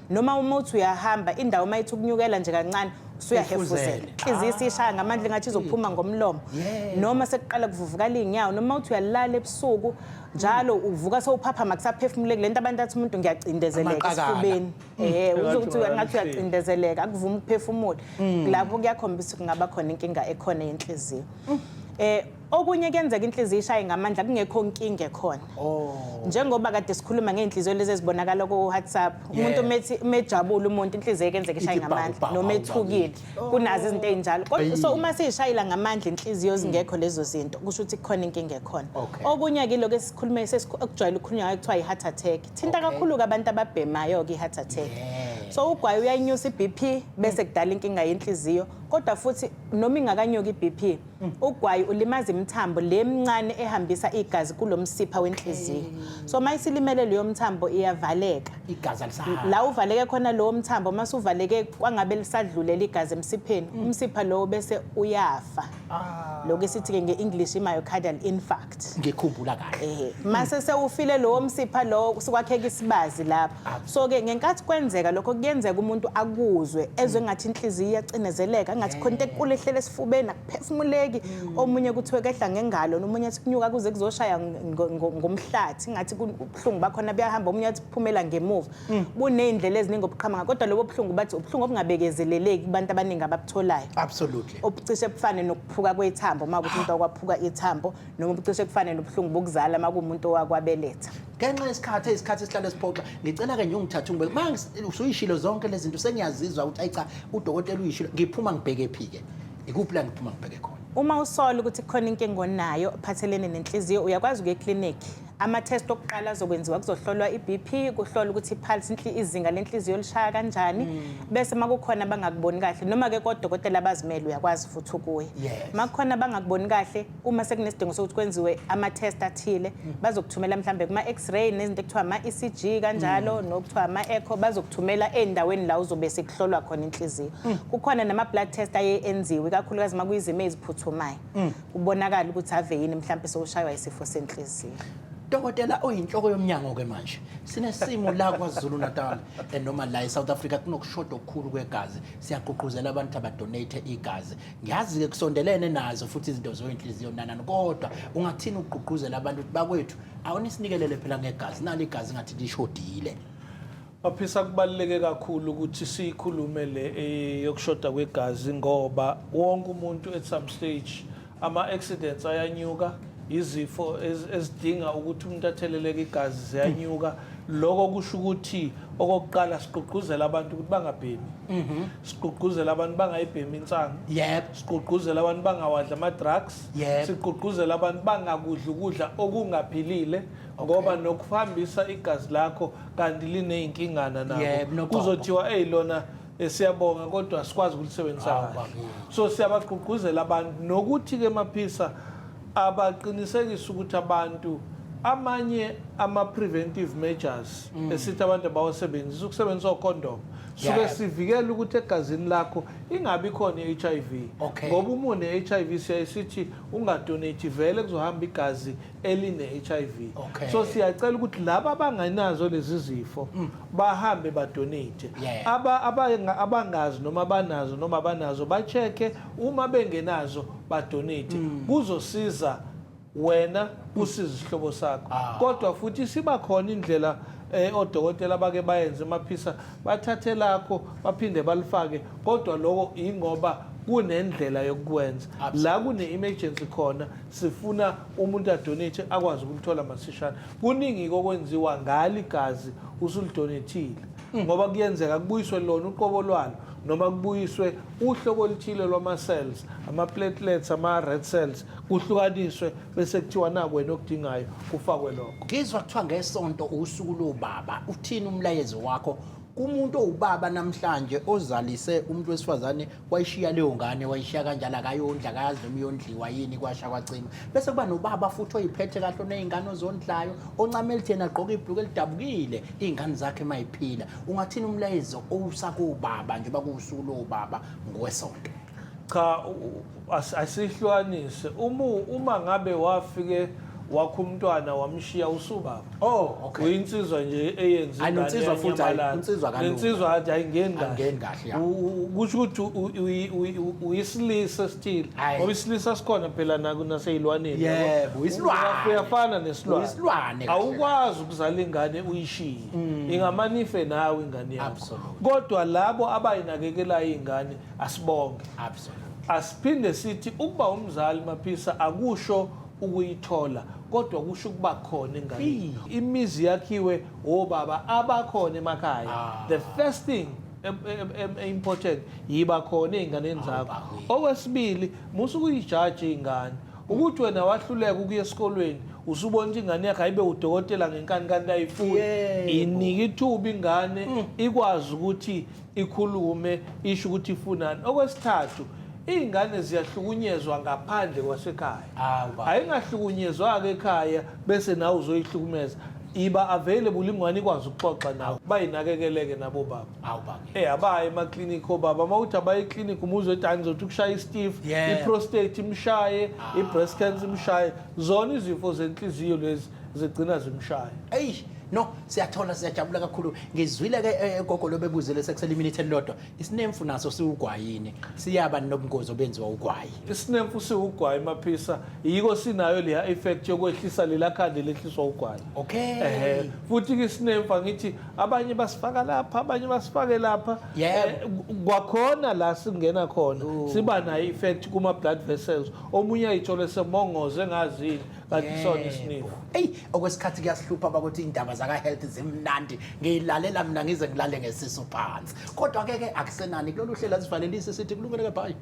noma uma uthi uyahamba indawo uma ithi ukunyukela nje kancane usuyahefuzela Ifuzele. inhliziyo isishaya ngamandla engathi izophuma ngomlomo Yeah. noma sekuqala kuvuvukala iy'nyawo noma uthi uyalala ebusuku njalo uvuka sewuphaphama kusaphefumule kule nto abantu athi umuntu ngiyacindezeleka Amaqakala. esifubeni Eh, uze uthi Phakathi ngathi uyacindezeleka akuvumi ukuphefumula lapho kuyakhombisa ukuthi kungaba khona inkinga ekhona yenhliziyo um okunye kuyenzeka inhliziyo ishaye ngamandla kungekho nkinga ekhona oh. njengoba kade sikhuluma ngey'nhliziyo lezi ezibonakala ku-whatsapp umuntu methi mejabule umuntu inhliziyo ekenzeka ishaye ngamandla noma ethukile oh. kunazo izinto ey'njalo so uma siyishayela ngamandla inhliziyo hmm. zingekho lezo zinto kusho ukuthi kukhona inkinga ekhona okunye-ke ilokhu esikhulume okujwayele ukukhulunywa ngayo kuthiwa i-heart attack thinta kakhulu-ke abantu ababhemayo-ke i-heart attack so ugwayi uyayinyusa i-b p bese kudala inkinga yenhliziyo kodwa futhi noma ingakanyuki iBP ugwayi ulimaza imithambo le mncane ehambisa igazi kulo msipha wenhliziyo so uma isilimele leyo mthambo iyavaleka igazi alisahambi la uvaleke khona lowo mthambo uma suvaleke kwangabe lisadlulela igazi emsipheni umsipha lowo bese uyafa lokho esithi-ke nge-english i-myocardial infarct ngikhumbula kahle ehe mase sewufile lowo msipha lowo kusukwakheka isibazi lapha so ke ngenkathi kwenzeka lokho kuyenzeka umuntu akuzwe ezwe ngathi inhliziyo iyacinezeleka ngathi khona into ekulu ehlele esifubeni akuphefumuleki omunye kuthiwe kehla ngengalo nomunye athi kunyuka kuze kuzoshaya ngo- ngo- ngomhlathi ngathi kubuhlungu bakhona buyahamba omunye athi phumela ngemuva mm. buney'ndlela eziningi obuqhamanga kodwa lobo buhlungu bathi ubuhlungu obungabekezeleleki kubantu abaningi ababutholayo absolutely obucishe bufane nokuphuka kwethambo uma kuthi umuntu wakwaphuka ithambo noma obucishe bufane nobuhlungu bokuzala uma kuwumuntu owakwabeletha ngenxa yesikhathi isikhathi esihlale siphoxa ngicela-ke nje ungithathe ungibeke ma usuyishilo zonke lezi zinto sengiyazizwa ukuthi ayi cha udokotela uyishilo ngiphuma ngibheke phi-ke ikuphi la ngiphuma ngibheke khona uma usola ukuthi kukhona inkinga onayo phathelene nenhliziyo uyakwazi ukuya eklinikhi Ama-test okuqala azokwenziwa kuzohlolwa i-BP, kuhlolwa ukuthi i-pulse inhli- izinga lenhliziyo lishaya kanjani. Bese uma kukhona abangakuboni kahle noma ke kodokotela abazimele uyakwazi futhi ukuya. Yes. Uma kukhona abangakuboni kahle uma sekunesidingo sokuthi kwenziwe ama-test athile bazokuthumela mhlambe kuma-x-ray nezinto ekuthiwa ama-ECG kanjalo nokuthiwa ama-echo bazokuthumela ey'ndaweni la uzobe sekuhlolwa khona inhliziyo. Kukhona nama-blood test aye enziwe ikakhulukazi uma kuyizimo eziphuthumayo. kubonakala ukuthi ave yini mhlawumbe sewushaywa isifo senhliziyo dokotela oyinhloko yomnyango-ke manje sinesimo la kwazulu natal eh, noma la e-south africa kunokushoda okukhulu kwegazi siyagqugquzela abantu abadonate igazi ngiyazi-ke kusondelene nazo futhi izinto zoyinhliziyo nanani kodwa ungathini ukugqugquzela abantu ukuthi bakwethu awunisinikele phela ngegazi nalo igazi ngathi lishodile Baphisa kubaluleke kakhulu ukuthi siyikhulume le eh, yokushoda kwegazi ngoba wonke umuntu at some stage ama accidents ayanyuka izifo ezidinga ukuthi umuntu atheleleke igazi ziyanyuka lokho kusho ukuthi okokuqala sigqugquzela abantu ukuthi bangabhemi mhm. sigqugquzela abantu bangayibhemi insangu yebo sigqugquzela abantu bangawadla ama-drugs sigqugquzela abantu bangakudla ukudla okungaphilile ngoba nokuhambisa igazi lakho kanti lineyinkingana Yebo, nabo nogogo. kuzothiwa eyi lona eh, siyabonga kodwa sikwazi ukulisebenzisa Hawu, kahle bakithi. so siyabagqugquzela abantu nokuthi-ke maphisa abaqinisekise ukuthi abantu amanye ama-preventive measures esithi abantu abawasebenzisa ukusebenzisa okhondomu suke Mm. Yeah. sivikele ukuthi egazini lakho ingabi khona i-h i v Okay. ngoba uma une-h i v siyaye sithi ungadonate vele kuzohamba igazi eline-HIV okay. so siyacela ukuthi laba abanganazo lezi zifo mm. bahambe badonate yeah. aba, aba, abangazi noma banazo noma banazo bacheke uma bengenazo badonate mm. kuzosiza wena mm. usiza isihlobo sakho ah. kodwa futhi siba khona indlela eh odokotela bake bayenze maphisa bathathe lakho baphinde balifake kodwa lokho ingoba kunendlela yokukwenza la kune emergency khona Sifuna umuntu adonate akwazi ukulithola masishane. Kuningi kokwenziwa ngali gazi usulidonethile mm. ngoba kuyenzeka kubuyiswe lona uqobo lwalo noma kubuyiswe uhlobo oluthile lwama-cells ama-platelets ama-red cells kuhlukaniswe bese kuthiwa naku wena okudingayo kufakwe lokho ngizwa kuthiwa ngesonto usuku lobaba uthini umlayezo wakho kumuntu owubaba namhlanje ozalise umuntu wesifazane wayishiya leyo ngane wayishiya kanjalo akayondla akayazi noma iyondliwa yini kwasha kwacima bese kuba nobaba futhi oyiphethe kahle oney'ngane ozondlayo oncama elitheni agqoke ibhluku elidabukile iy'ngane zakhe mayiphila ungathini umlayezo owusa kobaba njengoba kuwusuku lowobaba ngowesonto cha asihlukanise umu uma ngabe wafike wakho umntwana wamshiya usubaba oh okay uyinsizwa nje eyenza Ayi, insizwa futhi, ayi, insizwa kalula. insizwa athi ayingeni kahle Angeni kahle, ya. U- u- kusho ukuthi u- u- uyi- uyi- u- uyisilisa still Ayi. ngoba isilisa sikhona phela naku naseyilwaneni Yebo, yabo. uyisilwane. Uya- uyafana nesilwane Uyisilwane kahle awukwazi ukuzala ingane uyishiye ingamanife nawe ingane yakho Absolutely. kodwa labo abayinakekelayo ingane asibonge Absolutely. asiphinde sithi ukuba umzali maphisa akusho ukuyithola kodwa kusho ukuba khona enganeni imizi yakhiwe obaba abakhona emakhaya Ah. the first thing em- em- em- e-important yiba khona ey'nganeni zakho bakwethu. okwesibili musa ukuyijaji ingane ukuthi wena wahluleka ukuya esikolweni usubona ukuthi ingane yakhe ayibe udokotela ngenkani kanti ayifuni Yebo. inike ithuba ingane ikwazi ukuthi ikhulume isho ukuthi ifunani okwesithathu iy'ngane ziyahlukunyezwa ngaphandle kwasekhaya Awu, baba. ayingahlukunyezwa-ke ekhaya bese nawe uzoyihlukumeza iba available ingwane ikwazi ukuxoxa nawe bayinakekele-ke nabo baba Awu, baba. Eh abaye emaklinikhi obaba uma uthi abaye eklinikhi umuzwe ethi hayi ngizothi ukushaya istif Yeah. Ah. i-prostate imshaye i-breast cancer imshaye zona izifo zenhliziyo lezi zigcina zimshaya eyi no siyathola siyajabula kakhulu ngizwile ke eh, gogo lobebuzile sekusele iminute elilodwa isinemfu naso siwugwayini siyaba nobungozi obenziwa ugwayi isinemfu siwugwayi maphisa yiko sinayo leya effect yokwehlisa lela khandi lehliswa ugwayi okay ehe futhi ke isinemfu angithi abanye basifaka lapha abanye basifake lapha Yebo. Eh, ku- kwakhona la singena khona siba nayo effect kuma blood vessels omunye ayithole semongoze ngazini Kakusona isinifu. Ey okwesikhathi kuyahlupha bakuthi indaba zaka health zimnandi ngiyilalela mina ngize ngilale ngesisu phansi kodwa ke ke akusenani kulolu hlela sivalelise sithi kulungele ke bye